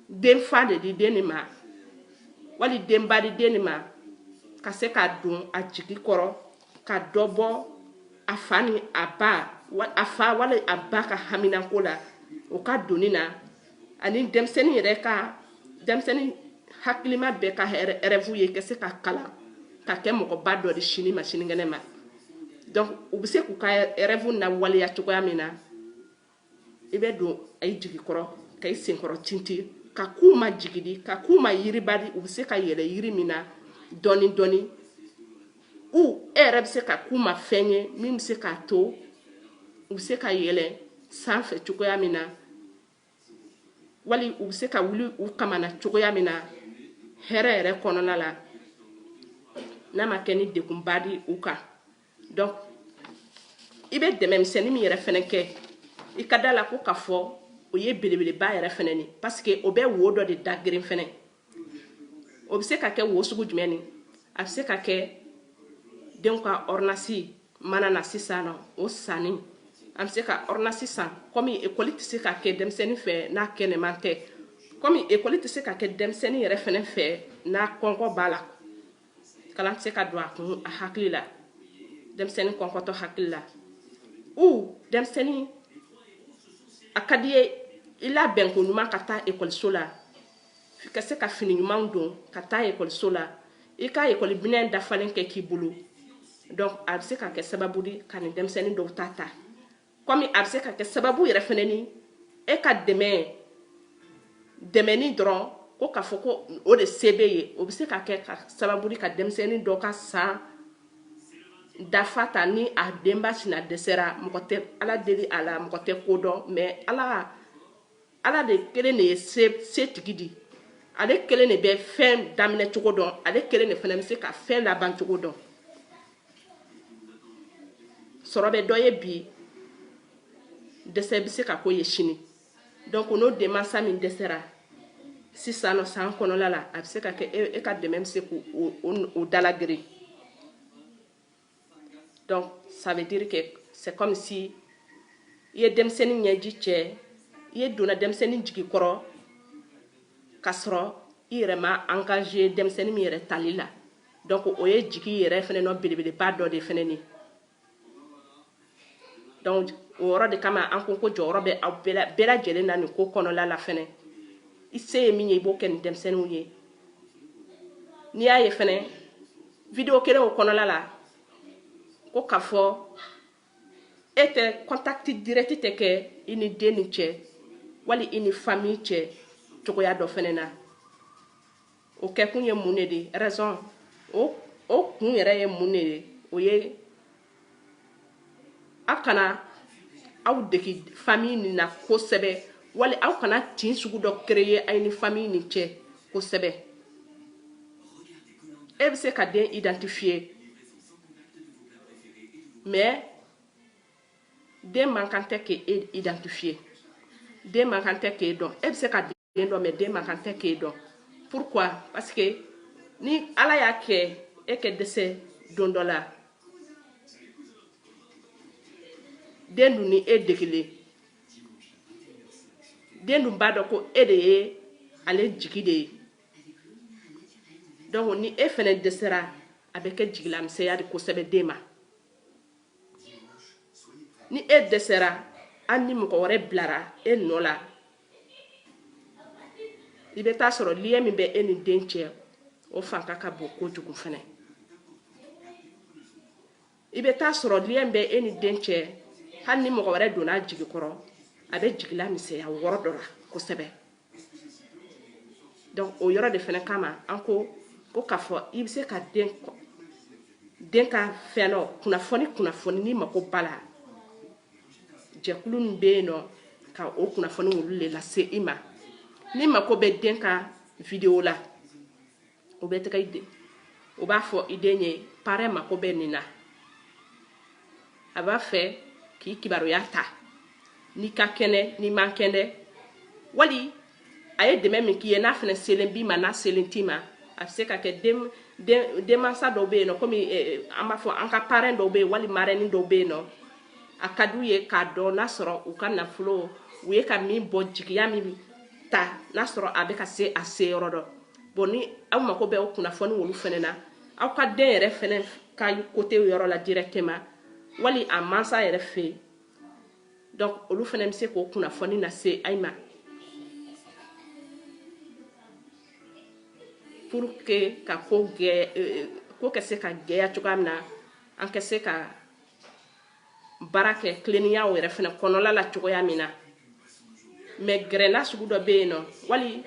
den fa de di den nin ma wali denba di den nin ma ka se ka don a jigi kɔrɔ ka dɔ bɔ a fa ni a ba a fa wali a ba ka haminako la o ka doni na ani denmisɛnnin yɛrɛ ka denmisɛnnin hakilima bɛɛ ka rêve ye ka se ka kalan ka kɛ mɔgɔba dɔ di sini ma sinikɛnɛ ma donc u bɛ se k'u ka rêve nawaleya cogoya min na i bɛ don a ye jigi kɔrɔ ka i senkɔrɔ tinti ka k'u ma jigi di ka k'u ma yiriba di u bɛ se ka yɛlɛ yiri min na dɔɔni dɔɔni ou e yɛrɛ bɛ se ka k'u ma fɛn ye min bɛ se k'a to u bɛ se ka yɛlɛ sanfɛ cogoya min na wali u bɛ se ka wuli u kaman na cogoya min na hɛrɛ yɛrɛ kɔnɔna la n'a ma kɛ ni degunba di u kan donc i bɛ dɛmɛ misɛnnin min yɛrɛ fɛnɛ kɛ i ka da la ko k'a fɔ o ye belebeleba yɛrɛ fɛnɛ ni parce que o bɛ wo dɔ de da geren fɛnɛ o bɛ se ka kɛ wo sugu jumɛn ni a bɛ se ka kɛ denw ka ordonnance mana na sisan nɔ o sanni an bɛ se ka ordonnance san kɔmi ekɔli tɛ se ka kɛ denmisɛnnin fɛ n'a kɛnɛman tɛ kɔmi ekɔli tɛ se ka kɛ denmisɛnnin yɛrɛ fɛnɛ fɛ n'a kɔnkɔ b'a la kalan tɛ se ka don a kun a hakili la denmisɛnnin kɔnkɔtɔ hakili la ou denmisɛnnin a ka d'i ye i labɛn ko ɲuman ka taa ekɔliso la ka se ka fini ɲumanw don ka taa ekɔliso la i ka ekɔli minɛn dafalen kɛ k'i bolo donc a bɛ se ka kɛ sababu di ka nin denmisɛnnin dɔw ta ta kɔmi a bɛ se ka kɛ sababu yɛrɛ fɛnɛ ni e ka dɛmɛ dɛmɛni dɔrɔn ko k'a fɔ ko o de se b'e ye o bɛ se ka kɛ ka sababu di ka denmisɛnnin dɔ ka san dafa ta ni a denba sina dɛsɛra mɔgɔ tɛ ala deli a la mɔgɔ tɛ ko dɔn mais ala ala de kelen de ye se tigi di ale kelen de bɛ fɛn daminɛ cogo dɔn ale kelen de fana bɛ se ka fɛn laban cogo dɔn sɔrɔ bɛ dɔ ye bi dɛsɛ bɛ se ka k'o ye sini donc n'o denmansa min dɛsɛra sisan nɔ san kɔnɔla la a bɛ se ka kɛ e, e ka dɛmɛ bɛ se k'o da lageren donc ça veut dire que c'est comme si i ye denmisɛnnin ɲɛji cɛ i ye donna denmisɛnnin jigi kɔrɔ k'a sɔrɔ i yɛrɛ ma engagé denmisɛnnin min yɛrɛ tali la donc o ye jigi yɛrɛ fɛnɛ nɔ belebeleba dɔ de fɛnɛ ni donc o yɔrɔ de kama an ko ko jɔyɔrɔ bɛ aw bɛɛ lajɛlen na nin ko kɔnɔla la fɛnɛ i se ye min ye i b'o kɛ nin denmisɛnninw ye n'i y'a ye fɛnɛ video kelen o kɔnɔla la ko k'a fɔ e tɛ contact direct tɛ kɛ i ni dennin cɛ wali i ni famille cɛ cogoya dɔ fɛnɛ na o kɛkun ye mun de de raison o o kun yɛrɛ ye mun de ye o ye aw kana aw degi famille nin na kosɛbɛ wali aw kana tin sugu dɔ créer aw ni famille nin cɛ kosɛbɛ e bɛ se ka den identifier mais den man kan tɛ k'e identifier den man kan tɛ k'e dɔn e bɛ se ka den dɔn mais den man kan tɛ k'e dɔn pourquoi parce que ni ala y'a kɛ e ka dɛsɛ don dɔ la den dun ni e degelen den dun b'a dɔn ko e de ye ale jigi de ye donc ni e fɛnɛ dɛsɛra a bɛ kɛ jigilamisɛnya de kosɛbɛ den ma ni e dɛsɛra hali ni mɔgɔ wɛrɛ bilara e nɔ la i bɛ taa sɔrɔ lien min bɛ e ni den cɛ o fanga ka bon kojugu fɛnɛ i bɛ taa sɔrɔ lien bɛ e ni den cɛ hali ni mɔgɔ wɛrɛ donna jigi kɔrɔ a bɛ jigilamisɛnya wɔrɔ dɔ la kosɛbɛ donc o yɔrɔ de fɛnɛ kama an ko k'a fɔ i bɛ se ka den ka fɛn dɔ kunnafoni kunnafoni ni mako b'a la jɛkulu min bɛ yen nɔ ka o kunnafoni olu de lase i ma ni mako bɛ den ka video la o bɛ tɛgɛ i den o b'a fɔ i den ye parrain mako bɛ nin na a b'a fɛ k'i kibaruya ta n'i ka kɛnɛ n'i man kɛnɛ wali a ye dɛmɛ min k'i ye n'a fɛnɛ selen b'i ma n'a selen t'i ma a bɛ se ka kɛ den den denmansa dɔw bɛ yen nɔ komi eh, an b'a fɔ an ka parrain dɔw bɛ yen wali marraine dɔw bɛ yen nɔ a ka d'u ye k'a dɔn n'a sɔrɔ u ka nafolo u ye ka min bɔ jigiya min ta n'a sɔrɔ a bɛ ka se a se yɔrɔ dɔ bon ni aw mako bɛ o kunnafoni olu fɛnɛ na aw ka den yɛrɛ fɛnɛ ka côté yɔrɔ la directement wali a mansa yɛrɛ fɛ yen donc olu fɛnɛ bɛ se k'o kunnafoni lase ayi ma pour que ka ko gɛ euh, ko ka se ka gɛya cogoya min na an ka se ka baara kɛ tilennenyaw yɛrɛ fɛnɛ kɔnɔla la cogoya min na mais gɛrɛnna sugu dɔ bɛ yen nɔ wali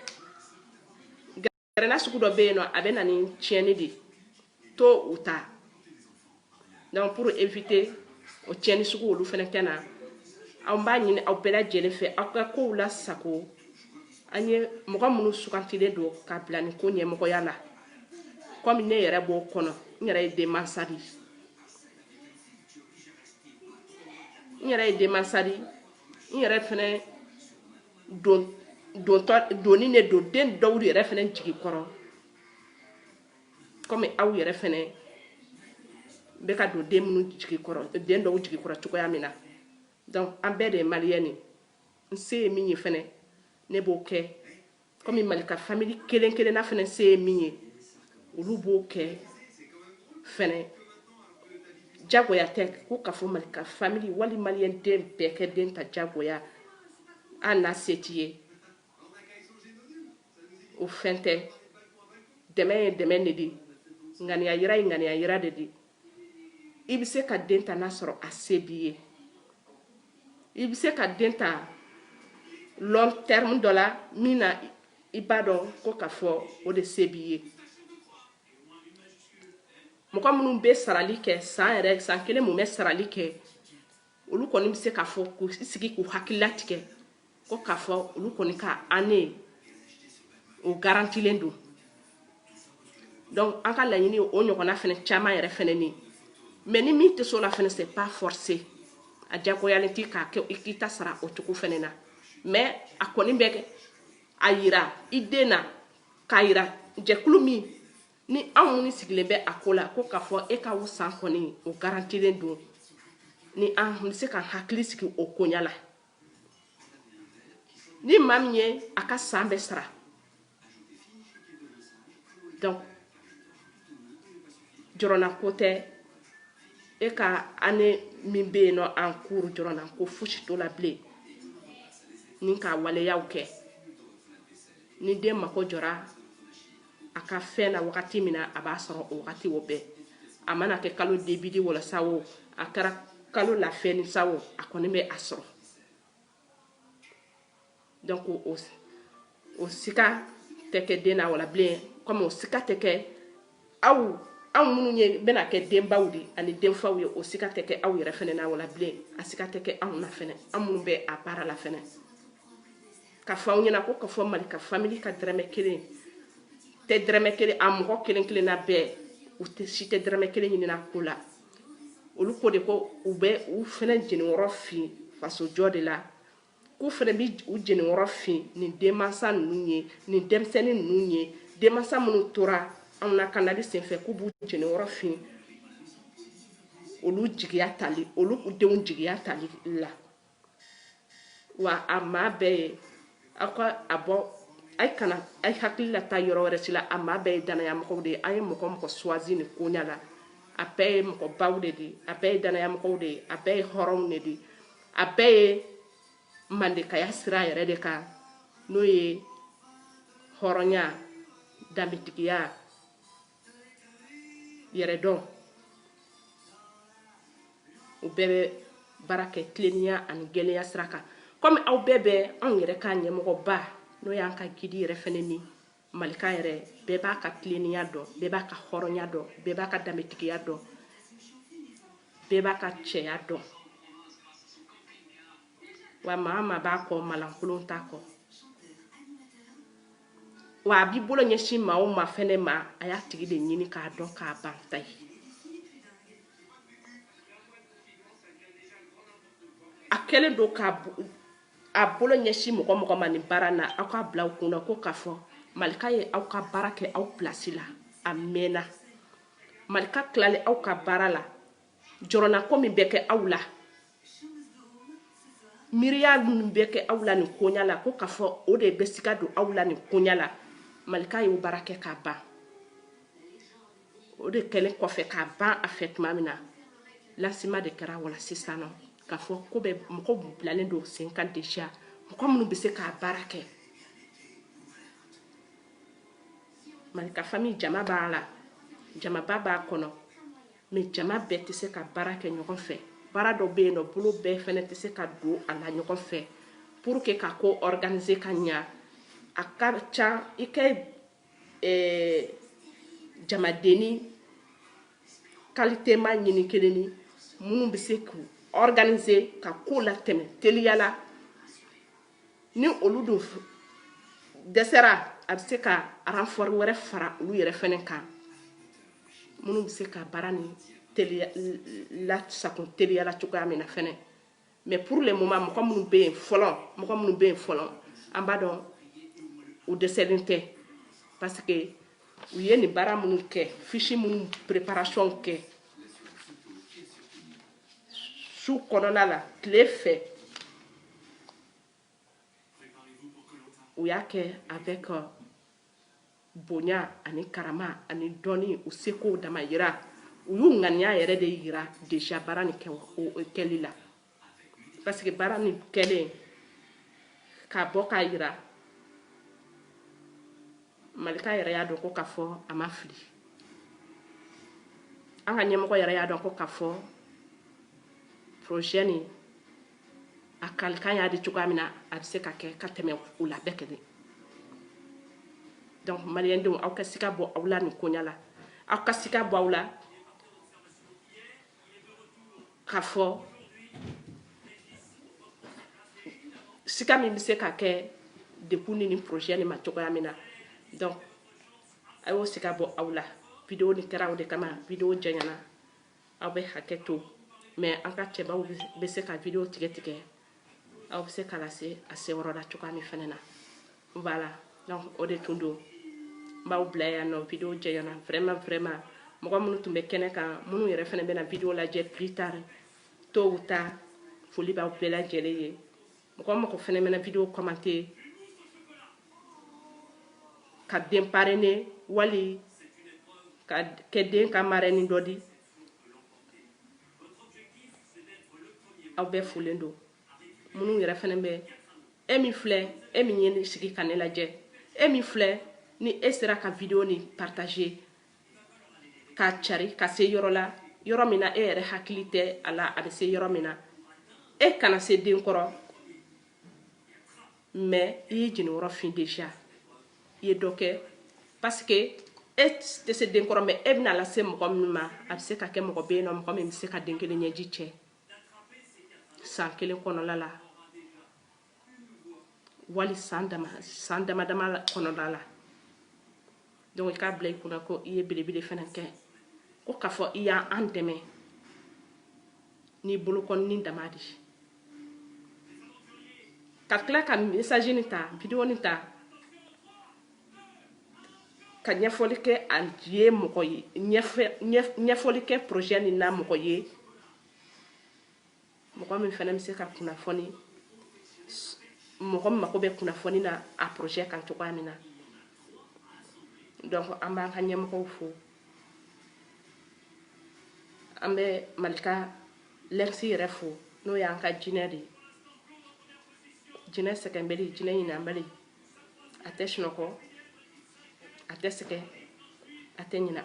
gɛrɛnna sugu dɔ bɛ yen nɔ a bɛ na ni tiɲɛni de to u ta donc pour éviter o tiɲɛni sugu olu fɛnɛ ka na anw b'a ɲini aw bɛɛ lajɛlen fɛ aw ka kow la sago an ye mɔgɔ minnu sugantilen don ka bila nin ko ɲɛmɔgɔya la komi ne yɛrɛ b'o kɔnɔ n yɛrɛ ye denmansa de ye n yɛrɛ ye denmansa de ye n yɛrɛ fɛnɛ doni de don den dɔw yɛrɛ fɛnɛ jigi kɔrɔ kɔmi aw yɛrɛ fɛnɛ bɛ ka don den minnu den dɔw jigi kɔrɔ cogoya min na an bɛɛ de ye maliyɛn ni n se ye min ye fɛnɛ ne b'o kɛ kɔmi mali ka famili kelen kelenna fɛnɛ se ye min ye olu b'o kɛ fɛnɛ jagoya tɛ ko k'a fɔ mali ka famili wali mali den bɛɛ ka den ta jagoya hali n'a se t'i ye o fɛn tɛ dɛmɛ ye dɛmɛ de di ŋaniya yira ye ŋaniya yira de di i bɛ se ka den ta n'a sɔrɔ a se b'i ye i bɛ se ka den ta long terme dɔ la min na i b'a dɔn ko k'a fɔ o de se b'i ye mɔgɔ minnu bɛ sarali kɛ san yɛrɛ san kelen mun bɛ sarali kɛ olu kɔni bɛ se k'a fɔ k'u sigi k'u hakili latigɛ ko k'a fɔ olu kɔni ka année o garantilen don donc an ka laɲini o ɲɔgɔnna fɛnɛ caman yɛrɛ fɛnɛ ni mais ni min tɛ s'o la fɛnɛ c'est pas forcé a jagoyalen t'i k'a kɛ i k'i ta sara o cogo fɛnɛ na mais a kɔni bɛ a yira i den na k'a yira jɛkulu min ni anw minnu sigilen bɛ a ko la ko k'a fɔ e ka o san kɔni o garantilen don ni an bɛ se ka hakili sigi o koɲa la ni maa min ye a ka san bɛɛ sara donc jɔrɔnako tɛ e ka année min bɛ yen nɔ en cours jɔrɔnako fosi t'o la bilen ni ka waleyaw kɛ ni den mako jɔra a ka fɛn na wagati min na a b'a sɔrɔ o wagati o bɛɛ a mana kɛ kalo début de wala sa o a kɛra kalo la fin de sa o a kɔni bɛ a sɔrɔ donc o, o sika tɛ kɛ den na wala bilen kɔmi o sika tɛ kɛ aw aw minnu ye bɛna kɛ denbaw de ani denfaw ye o sika tɛ kɛ aw yɛrɛ fɛnɛ na wala bilen a sika tɛ kɛ anw na fɛnɛ an minnu bɛ a baara la fɛnɛ k'a fɔ aw ɲɛna ko k'a fɔ mali ka famili ka dɛrɛmɛ kelen tɛ dɛrɛmɛ kelen a mɔgɔ kelen kelenna bɛɛ u tɛ si tɛ dɛrɛmɛ kelen ɲinin a ko la olu ko de ko u bɛ u fɛnɛ jeniyɔrɔ fin fasojɔ de la k'u fɛnɛ bɛ u jeniyɔrɔ fin nin denmansa ninnu ye nin denmisɛnnin ninnu ye denmansa minnu tora anw lakanali senfɛ k'u b'u jeniyɔrɔ fin olu jigiya tali olu denw jigiya tali la wa a maa bɛɛ ye aw ka a bɔ a ye kana a ye hakili la taa yɔrɔ wɛrɛ si la a maa bɛɛ ye danaya mɔgɔw de ye an ye mɔgɔ mɔgɔ choisi nin koɲa la a bɛɛ ye mɔgɔbaw de ye a bɛɛ ye danaya mɔgɔw de ye a bɛɛ ye hɔrɔnw de ye a bɛɛ ye mandekaya sira yɛrɛ de kan n'o ye hɔrɔnya danbetigiya yɛrɛdɔn u bɛɛ bɛ baara kɛ tilennenya ani gɛlɛya sira kan kɔmi aw bɛɛ bɛ anw yɛrɛ ka ɲɛmɔgɔba n'o y'an ka gidi yɛrɛ fɛnɛ ni Malika yɛrɛ bɛɛ b'a ka tileninya dɔn bɛɛ b'a ka hɔrɔnya dɔn bɛɛ b'a ka danbetigiya dɔn bɛɛ b'a ka cɛya dɔn wa maa maa b'a kɔ malankolon t'a kɔ wa a b'i bolo ɲɛsin maa o maa fɛnɛ ma a y'a tigi de ɲini k'a dɔn k'a ban ta ye a kɛlen don k'a a bolo ɲɛsin mɔgɔ mɔgɔ ma nin baara na aw k'a bila aw kun na ko k'a fɔ malika ye aw ka baara kɛ aw pilasi la a mɛnna malika tilalen aw ka baara la jɔrɔnako min bɛ kɛ aw la miiriya minnu bɛ kɛ aw la nin koɲa la ko k'a fɔ o de bɛ sika don aw la nin koɲa la malika y'o baara kɛ k'a ban o de kɛlen kɔfɛ k'a ban a fɛ tuma min na lancement de kɛra voilà sisan nɔ k'a fɔ ko bɛ mɔgɔ bilalen don sen kan déjà mɔgɔ minnu bɛ se k'a baara kɛ malika famille jama b'a la jamaba b'a kɔnɔ mais jama bɛɛ tɛ se ka baara kɛ ɲɔgɔn fɛ baara dɔ bɛ yen nɔ bolo bɛɛ fana tɛ se ka don a la ɲɔgɔn fɛ pour que ka ko organiser ka ɲa a ka ca i ka eh, jamadenni kalitema ɲini kelen ni minnu bɛ se k'u organiser ka ko latɛmɛ teliya la ni olu dun dɛsɛra a bɛ se ka renfort wɛrɛ fara olu yɛrɛ fɛnɛ kan minnu bɛ se ka baara nin teliya lasakun teliya la cogoya min na fɛnɛ mais pour le moment mɔgɔ minnu bɛ yen fɔlɔ mɔgɔ minnu bɛ yen fɔlɔ an b'a dɔn u dɛsɛlen tɛ parce que u ye nin baara minnu kɛ fiche minnu préparation kɛ su kɔnɔna la tile fɛ u y'a kɛ avec euh, bonya ani karama ani dɔnni u seko damayira u y'u ŋaniya yɛrɛ de yira déjà baara nin kɛli la parce que baara nin kɛlen k'a bɔ k'a yira malika yɛrɛ y'a dɔn ko k'a fɔ a ma fili an ka ɲɛmɔgɔ yɛrɛ y'a dɔn ko k'a fɔ projet nin a kalikan y'a di cogoya min na a bɛ se ka kɛ ka tɛmɛ o la bɛɛ kelen donc maliyɛndenw aw ka sika bɔ aw la nin koɲa la aw ka sika bɔ aw la k'a fɔ sika min bɛ se ka kɛ dekun ni nin projet nin ma cogoya min na donc a y'o sika bɔ aw la video nin kɛra o de kama video janyana aw bɛ hakɛ to mais an ka cɛbaw bɛ se ka video tigɛ tigɛ aw bɛ se ka lase a seyɔrɔ la cogoya min fɛnɛ na voilà donc o de tun don n b'aw bila yan nɔ video janyana vraiment vraiment mɔgɔ minnu tun bɛ kɛnɛ kan minnu yɛrɛ fɛnɛ bɛna video lajɛ plus tard tôt ou tard foli b'aw bɛɛ lajɛlen ye mɔgɔ mɔgɔ fɛnɛ mɛna video commenter ka den parrainer wali ka kɛ den ka marraine dɔ di aw bɛɛ folen don minnu yɛrɛ fɛnɛ bɛ e min filɛ e min y'i sigi ka ne lajɛ e min filɛ ni e sera ka video nin partager k'a cari ka se yɔrɔ la yɔrɔ min na e yɛrɛ hakili tɛ a la a bɛ se yɔrɔ min na e kana se den kɔrɔ mais i y'i jeniyɔrɔ fin déjà i ye dɔ kɛ parce que e tɛ se den kɔrɔ mais e bɛna lase mɔgɔ min ma a bɛ se ka kɛ mɔgɔ bɛ yen nɔ mɔgɔ min bɛ se ka den kelen ɲɛji cɛ san kelen kɔnɔla la wali san dama san dama dama kɔnɔna la donc i k'a bila i kunna ko i ye belebele fɛnɛ kɛ ko k'a fɔ i y'an dɛmɛ n'i bolokɔnini dama di ka tila ka message nin ta video nin ta ka ɲɛfɔli kɛ a ye mɔgɔ ye ɲɛfɔli kɛ projet nin na mɔgɔ ye mɔgɔ min fɛnɛ bɛ se ka kunnafoni mɔgɔ min mako bɛ kunnafoni na a projet kan cogoya min na donc an b'an ka ɲɛmɔgɔw fo an bɛ malika lɛmsi yɛrɛ fo n'o y'an ka jinɛ de ye jinɛ sɛgɛnbali jinɛ ɲinanbali a tɛ sunɔgɔ a tɛ sɛgɛn a tɛ ɲina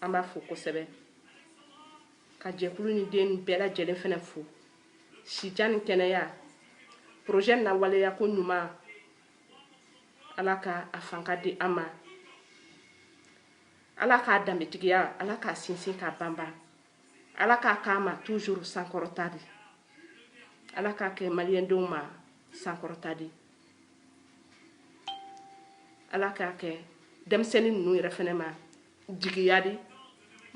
an b'a fo kosɛbɛ ka jɛkulu nin den bɛɛ lajɛlen fɛnɛ fo sijan ni kɛnɛya projet na waleya ko ɲuman ala ka a fanga di an ma ala k'a danbetigiya ala k'a sinsin k'a banban ala k'a k'a ma toujours sankɔrɔta di ala k'a kɛ maliyɛndenw ma sankɔrɔta di ala k'a kɛ denmisɛnnin ninnu yɛrɛ fɛnɛ ma jigiya di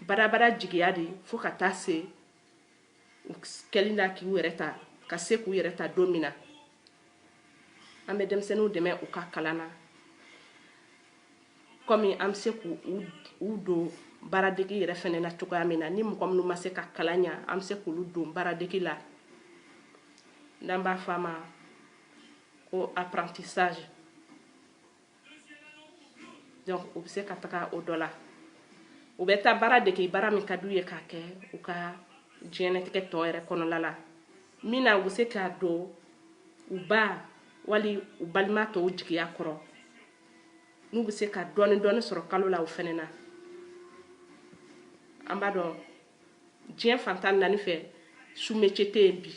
badabada jigiya di fo ka taa se kɛli na k'u yɛrɛ ta ka se k'u yɛrɛ ta don min na an bɛ denmisɛnninw dɛmɛ u ka kalan na kɔmi an bɛ se k'u don baaradege yɛrɛ fɛnɛ na cogoya min na ni mɔgɔ minnu ma se ka kalan ɲa an bɛ se k'olu don baaradege la n'an b'a fɔ a ma ko apprentissage donc u bɛ se ka taga o dɔ la u bɛ taa baara dege baara min ka d'u ye k'a kɛ u ka diɲɛnatigɛ tɔ yɛrɛ kɔnɔla la min na u bɛ se ka don u ba wali u balima tɔw jigiya kɔrɔ n'u bɛ se ka dɔɔni dɔɔni sɔrɔ kalo la o fɛnɛ na an b'a dɔn diɲɛ fan tan naani fɛ sous-métier tɛ yen bi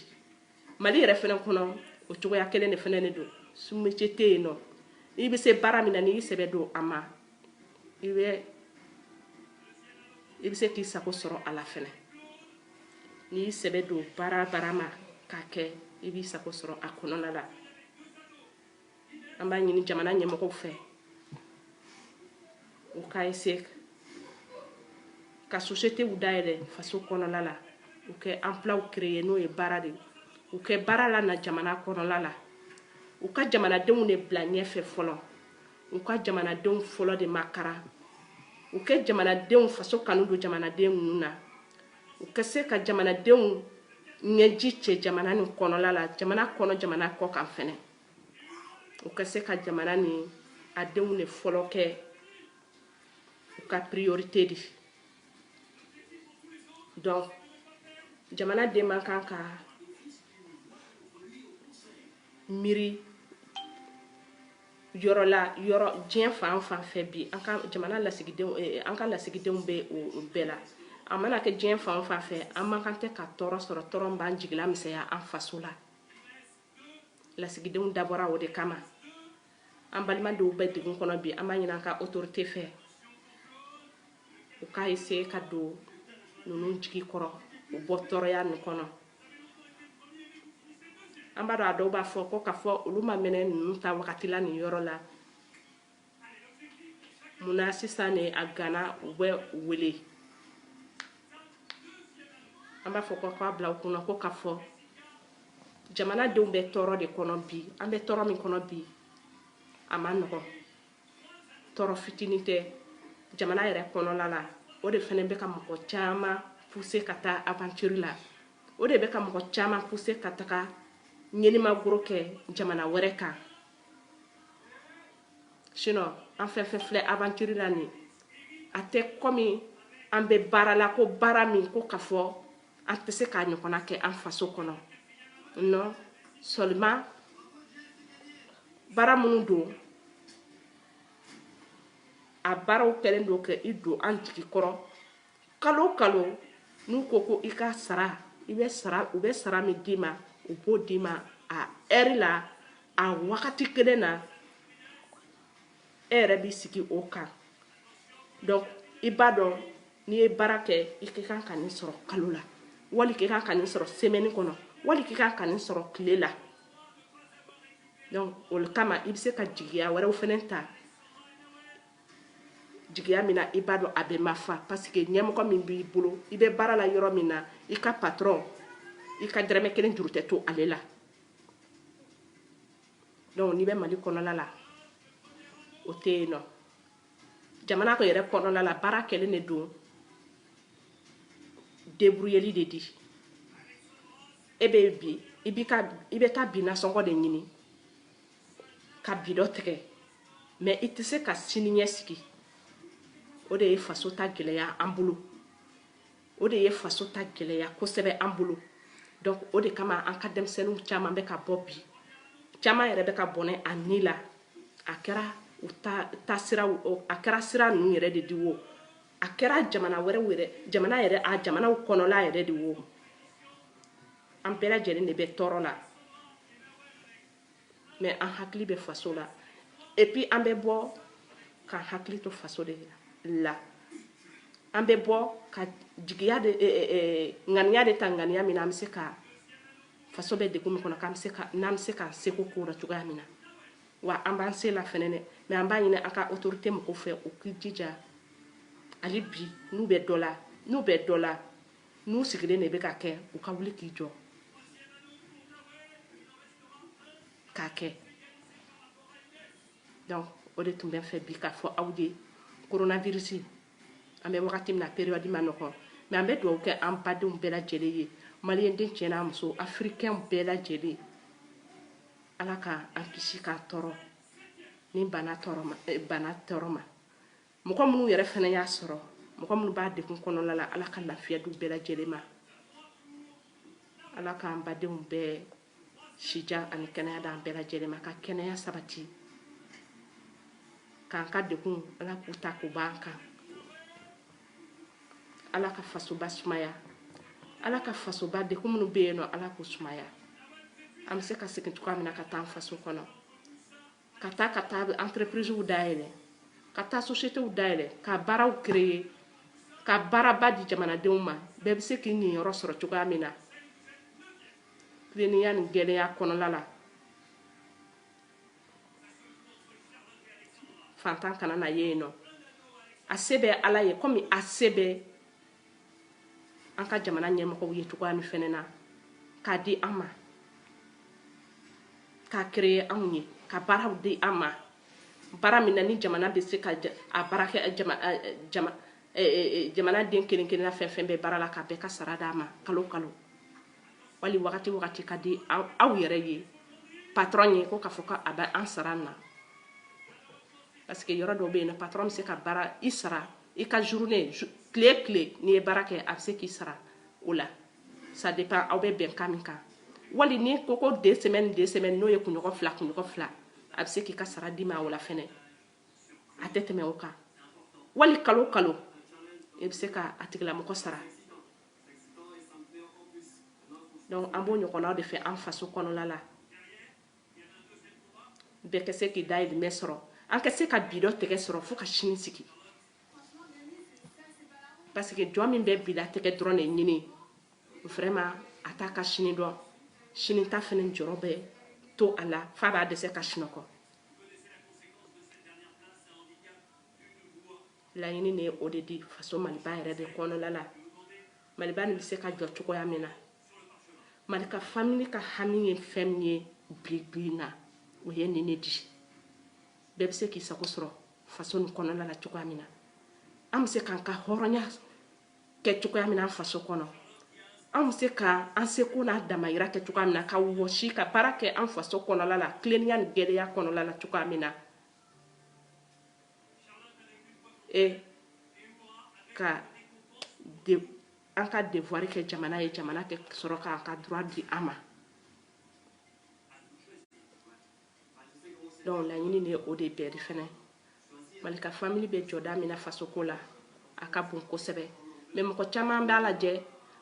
mali yɛrɛ fɛnɛ kɔnɔ o cogoya kelen de fɛnɛ de don sous-métier tɛ yen nɔ i bɛ se baara min na n'i sɛbɛ don a ma i bɛ se k'i sago sɔrɔ a la fɛnɛ n'i sɛbɛ don baara baara ma k'a kɛ i b'i sago sɔrɔ a kɔnɔna la an b'a ɲini jamana ɲɛmɔgɔw fɛ u ka essayer ka sociétéw dayɛlɛ faso kɔnɔla la u kɛ emploiw créer n'o ye baara di u kɛ baara lana jamana kɔnɔla la u ka jamanadenw de bila ɲɛfɛ fɔlɔ u ka jamanadenw fɔlɔ de makara u kɛ jamanadenw faso kanu don jamanaden ninnu na u ka se ka jamanadenw ɲɛji cɛ jamana nin kɔnɔla la jamana kɔnɔ jamana kɔ kan fɛnɛ u ka se ka jamana ni a denw de fɔlɔ kɛ u ka priorité di donc jamanaden man kan ka miiri yɔrɔ la yɔrɔ diɲɛ fan fan fɛ bi an ka jamana lasigidenw eh, an ka lasigidenw bɛ o bɛɛ la a mana kɛ diɲɛ fan fan fɛ an man kan tɛ ka tɔɔrɔ sɔrɔ tɔɔrɔ b'an jigilamisɛnya an faso la lasigidenw dabɔra o de kama an balima dɔw bɛ degun kɔnɔ bi an b'a ɲini an ka autorité fɛ u ka essayer ka don ninnu jigi kɔrɔ u bɔ tɔɔrɔya nin kɔnɔ an b'a dɔn a dɔw b'a fɔ ko k'a fɔ olu ma mɛnɛ ninnu taa wagati la nin yɔrɔ la munna sisan de a gana u bɛ wele an b'a fɔ ko k'a bila u kunna ko k'a fɔ jamanadenw bɛ tɔɔrɔ de kɔnɔ bi an bɛ tɔɔrɔ min kɔnɔ bi a man nɔgɔn tɔɔrɔ fitinin tɛ jamana yɛrɛ kɔnɔla la o de fɛnɛ bɛ ka mɔgɔ caman pousser ka taa aventure la o de bɛ ka mɔgɔ caman pousser ka taga ɲɛnimagoro kɛ jamana wɛrɛ kan sinon an fɛn fɛn filɛ aventure la nin a tɛ kɔmi an bɛ baara la ko baara min ko k'a fɔ an tɛ se k'a ɲɔgɔnna kɛ an faso kɔnɔ non seulement baara minnu don a baaraw kɛlen don ka i don an jigi kɔrɔ kalo o kalo n'u ko ko i ka sara i bɛ sara u bɛ sara min d'i ma u b'o d'i ma a heure la a wagati kelen na e yɛrɛ b'i sigi o kan donc i b'a dɔn n'i ye baara kɛ i ka kan ka nin sɔrɔ kalo la wali k'i kan ka nin sɔrɔ semaine kɔnɔ wali k'i kan ka nin sɔrɔ tile la donc o kama i bɛ se ka jigiya wɛrɛw fɛnɛ ta jigiya min na i b'a dɔn a bɛ mafa parce que ɲɛmɔgɔ min b'i bolo i bɛ baara la yɔrɔ min na i ka patron i ka dɛrɛmɛ kelen juru tɛ to ale la donc n'i bɛ mali kɔnɔna la o tɛ yen non jamana ko yɛrɛ kɔnɔna la baara kɛlen de don débrouilleli de di e bɛ bi i bɛ taa bi nasɔngɔ de ɲini ka bi dɔ tigɛ mais i tɛ se ka siniɲɛsigi o de ye faso ta gɛlɛya an bolo o de ye faso ta gɛlɛya kosɛbɛ an bolo donc o de kama an ka denmisɛnninw caman bɛ ka bɔ bi caman yɛrɛ bɛ ka bɔnɛ a ni la a kɛra u ta taa sira a kɛra sira ninnu yɛrɛ de di wo a kɛra jamana wɛrɛw yɛrɛ jamana yɛrɛ a jamanaw kɔnɔla yɛrɛ de wo an bɛɛ lajɛlen de bɛ tɔɔrɔ la mais an hakili bɛ faso la et puis an bɛ bɔ k'an hakili to faso de la an bɛ bɔ ka jigiya de eh, eh, eh, ŋaniya de ta ŋaniya min na an bɛ se ka faso bɛ degun min kɔnɔ k'an bɛ se ka n'an bɛ se k'an seko k'o la cogoya min na wa an b'an se la fɛnɛ dɛ mais an b'a ɲini an ka autorité mɔgɔw fɛ u k'i jija hali bi n'u bɛ dɔ la n'u bɛ dɔ la n'u sigilen de bɛ k'a kɛ u ka wuli k'i jɔ k'a kɛ donc o de tun bɛ n fɛ bi k'a fɔ aw ye coronavirus an bɛ wagati min na période ma nɔgɔn mais an bɛ dugawu kɛ an badenw bɛɛ lajɛlen ye maliyɛnden cɛ n'a muso africain bɛɛ lajɛlen ala ka an kisi k'an tɔɔrɔ nin bana tɔɔrɔ ma eh, bana tɔɔrɔ ma mɔgɔ minnu yɛrɛ fɛnɛ y'a sɔrɔ mɔgɔ minnu b'a degun kɔnɔna la ala ka lafiya d'u bɛɛ lajɛlen ma ala k'an badenw bɛɛ sijan ani kɛnɛya d'an bɛɛ lajɛlen ma ka kɛnɛya sabati k'an ka degun ala k'u ta k'u b'an kan ala ka fasoba sumaya ala ka fasoba degun minnu bɛ yen nɔ ala k'u sumaya an bɛ se ka segin cogoya min na ka taa an faso kɔnɔ ka taa ka taa entreprisew dayɛlɛ ka taa sociétéw dayɛlɛ ka baaraw créer ka baaraba di jamanadenw ma bɛɛ bɛ se k'i niyɔrɔ sɔrɔ cogoya min na tilennenya ni gɛlɛya kɔnɔla la faantan kana na ye yen nɔ a se bɛ ala ye komi a se bɛ an ka jamana ɲɛmɔgɔw ye cogoya min fɛnɛ na k'a di an ma k'a créer anw ye ka baaraw di an ma baara min na ni jamana bɛ se ka a baara kɛ jamana den kelen kelenna fɛn fɛn bɛ baara la ka bɛɛ ka sara d'a ma kalo kalo wali wagati wagati ka di aw yɛrɛ ye patron ye ko k'a fɔ ko a bɛ an sara na parce que yɔrɔ dɔw bɛ yen nɔ patron bɛ se ka baara i sara i ka journée tile tile n'i ye baara kɛ a bɛ se k'i sara o la ça dépend aw bɛ bɛnkan min kan wali ni ko ko deux semaines deux semaines n'o ye kunɲɔgɔn fila kunɲɔgɔn fila a bɛ se k'i ka sara d'i ma o la fɛnɛ a tɛ tɛmɛ o kan wali kalo kalo e bɛ se ka a tigilamɔgɔ sara donc an b'o ɲɔgɔnnaw de fɛ an faso kɔnɔna la bɛɛ ka se k'i dayirimɛ sɔrɔ an ka se ka bi dɔ tɛgɛ sɔrɔ fo ka sini sigi parce que jɔn min bɛ bi latigɛ dɔrɔn de ɲini vraiment a t'a ka sini dɔn sini ta fɛnɛ jɔrɔ bɛ to a la f'a b'a dɛsɛ ka sunɔgɔ laɲini ne o de di faso maliba yɛrɛ de kɔnɔna la maliba nin bɛ se ka jɔ cogoya min na Mali ka famille ka hami ye fɛn min ye bi bi in na o ye nin ne di bɛɛ bɛ se k'i sago sɔrɔ faso nin kɔnɔna la cogoya min na an bɛ se k'an ka hɔrɔnya kɛ cogoya min na an faso kɔnɔ an bɛ se ka an seko n'a damayira kɛ cogoya min na ka wɔsi ka baara kɛ an faso kɔnɔla la tilennenya ni gɛlɛya kɔnɔla la cogoya min na e ka de an ka devoir kɛ jamana ye jamana ka sɔrɔ k'an ka droit di an ma donc laɲini ne o de bɛɛ di fɛnɛ mali ka famille bɛ jɔda min na fasoko la a ka bon kosɛbɛ mais mɔgɔ caman b'a lajɛ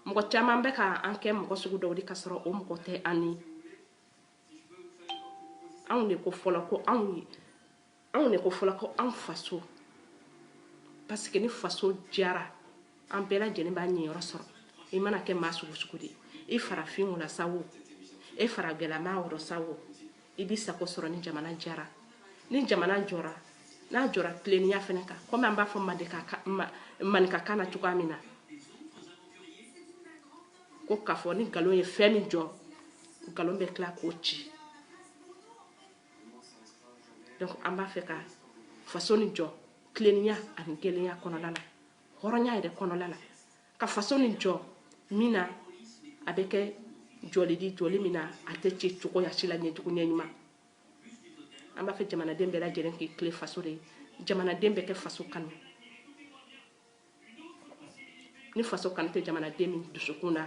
mɔgɔ caman bɛ ka an kɛ mɔgɔ sugu dɔw di ka sɔrɔ o mɔgɔ tɛ an ni anw de ko fɔlɔ ko anw ye anw de ko fɔlɔ ko an faso parce que ni faso diyara an bɛɛ lajɛlen b'a niyɔrɔ sɔrɔ i mana kɛ maa sugu sugu di i farafin wula sa wo e faragɛlama wɔrɔ sa wo i b'i sago sɔrɔ ni jamana diyara ni jamana jɔra n'a jɔra tilennenya fɛnɛ kan komi an b'a fɔ maninkakan na cogoya min na ko k'a fɔ ni nkalon ye fɛn min jɔ nkalon bɛ tila k'o ci donc an b'a fɛ ka faso nin jɔ tilennenya ani gɛlɛya kɔnɔla la hɔrɔnya yɛrɛ kɔnɔla la ka faso nin jɔ min na a bɛ kɛ jɔli di jɔli min na a tɛ ci cogoya si la ɲɛjugu ɲɛɲuman an b'a fɛ jamanaden bɛɛ lajɛlen k'i tilen faso de ye jamanaden bɛɛ ka faso kanu ni faso kanu tɛ jamanaden min dusukun na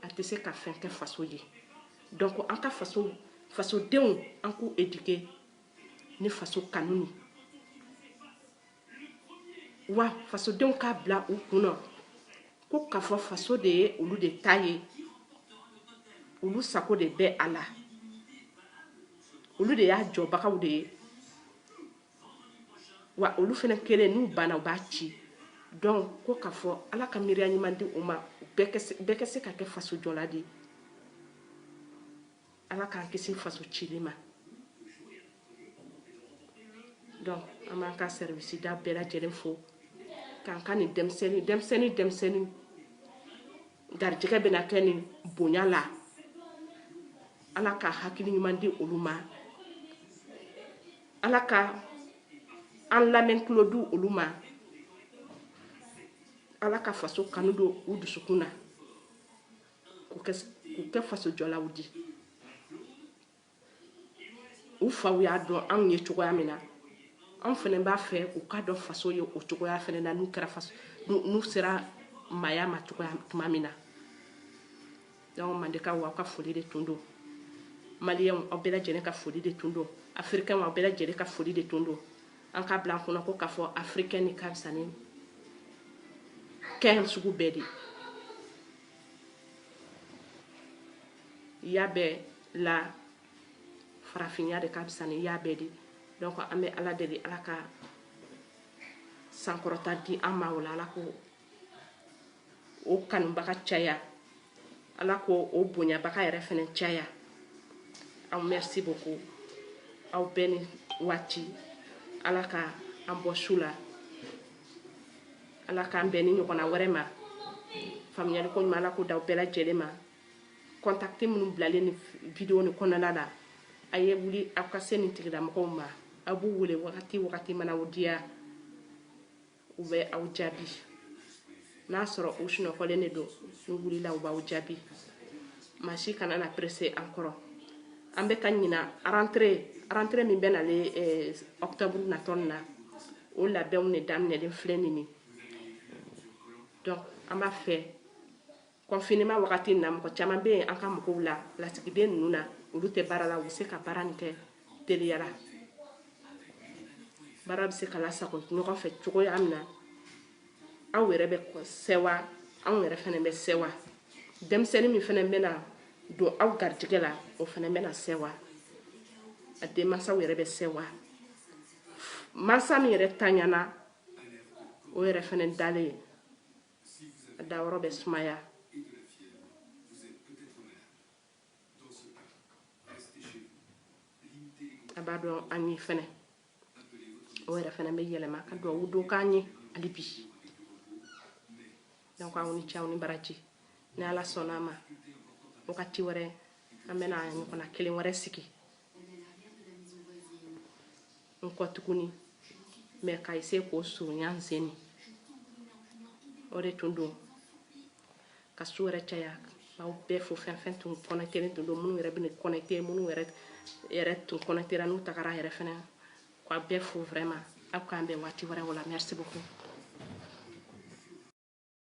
a tɛ se ka fɛn kɛ faso ye donc an ka fasodenw an k'u éduquer ni faso kanu ye wa fasodenw k'a bila u kun na ko k'a fɔ faso de ye olu de ta ye olu sago de bɛ a la olu de y'a jɔbagaw de ye wa olu fɛnɛ kelen n'u banna u b'a ci donc ko k'a fɔ ala ka miiriya ɲuman di u ma bɛɛ ka se ka kɛ faso jɔla di ala k'an kisi faso cili ma donc an b'an ka sɛriwisida bɛɛ lajɛlen fo k'an ka nin denmisɛnnin denmisɛnnin denmisɛnnin garijɛgɛ bɛna kɛ nin bonya la ala ka hakili ɲuman di olu ma ala ka an lamɛn tulo di olu ma ala ka faso kanu don u dusukun na k'u kɛ fasojɔlaw di u faw y'a dɔn anw ye cogoya min na anw fɛnɛ b'a fɛ u k'a dɔn faso ye o cogoya fɛnɛ na n'u sera maaya ma cogoya tuma min na donc mandekaw aw ka foli de tun don maliyɛnw aw bɛɛ lajɛlen ka foli de tun don afirikɛnw aw bɛɛ lajɛlen ka foli de tun don an k'a bila an kun na ko k'a fɔ afirikɛn nin ka fisa ni kɛn sugu bɛɛ di ya bɛɛ la farafinya de ka fisa ni ya bɛɛ di donc an bɛ ala deli ala ka sankɔrɔta di an ma o la ala k'o kanubaga caya ala k'o bonyabaga yɛrɛ fɛnɛ caya aw merci beaucoup aw bɛɛ ni waati ala ka an bɔ su la ala k'an bɛn ni ɲɔgɔnna wɛrɛ ma faamuyali ko ɲuman ala k'o d'aw bɛɛ lajɛlen ma contact minnu bilalen nin video nin kɔnɔna la a ye wuli aw ka se nin tigilamɔgɔw ma aw b'u wele wagati wagati mana aw diya u bɛ aw jaabi n'a sɔrɔ u sunɔgɔlen de don n'u wulila u b'aw jaabi maa si kana na pressé an kɔrɔ an bɛ ka ɲinan rentrée rentrée min bɛ nale eh, octobre natɔ nin na o labɛnw de daminɛlen filɛ nin ye donc an b'a fɛ Confinement wagati in na, mɔgɔ caman bɛ yen an ka mɔgɔw la lasigiden ninnu na, olu tɛ baara la, u bɛ se ka baara nin kɛ teliya la, baara bɛ se ka lasago ɲɔgɔn fɛ cogoya min na, aw yɛrɛ bɛ sewa, anw yɛrɛ fɛnɛ bɛ sewa, denmisɛnnin min fɛnɛ bɛna don aw garijɛgɛ la, o fɛnɛ bɛna sewa, a denmansaw yɛrɛ bɛ sewa, mansa min yɛrɛ tanyana, o yɛrɛ fɛnɛ dalen a dayɔrɔ bɛ sumaya a b'a dɔn an ye fɛnɛ o yɛrɛ fɛnɛ bɛ yɛlɛma ka duwawu dɔ k'an ye hali bi donc aw ni ce aw ni baraji ni ala sɔnna a ma wagati wɛrɛ an bɛna ɲɔgɔnna kelen wɛrɛ sigi n kɔ tuguni mais ka essayer k'o surunya nin sen in o de tun don ka su yɛrɛ caya aw bɛɛ fo fɛn fɛn tun connectélen tun don minnu yɛrɛ bɛ connecté minnu yɛrɛ tun connectéra n'u tagara yɛrɛ fɛnɛ k'aw bɛɛ fo vraiment aw k'an bɛn waati wɛrɛ o la merci beaucoup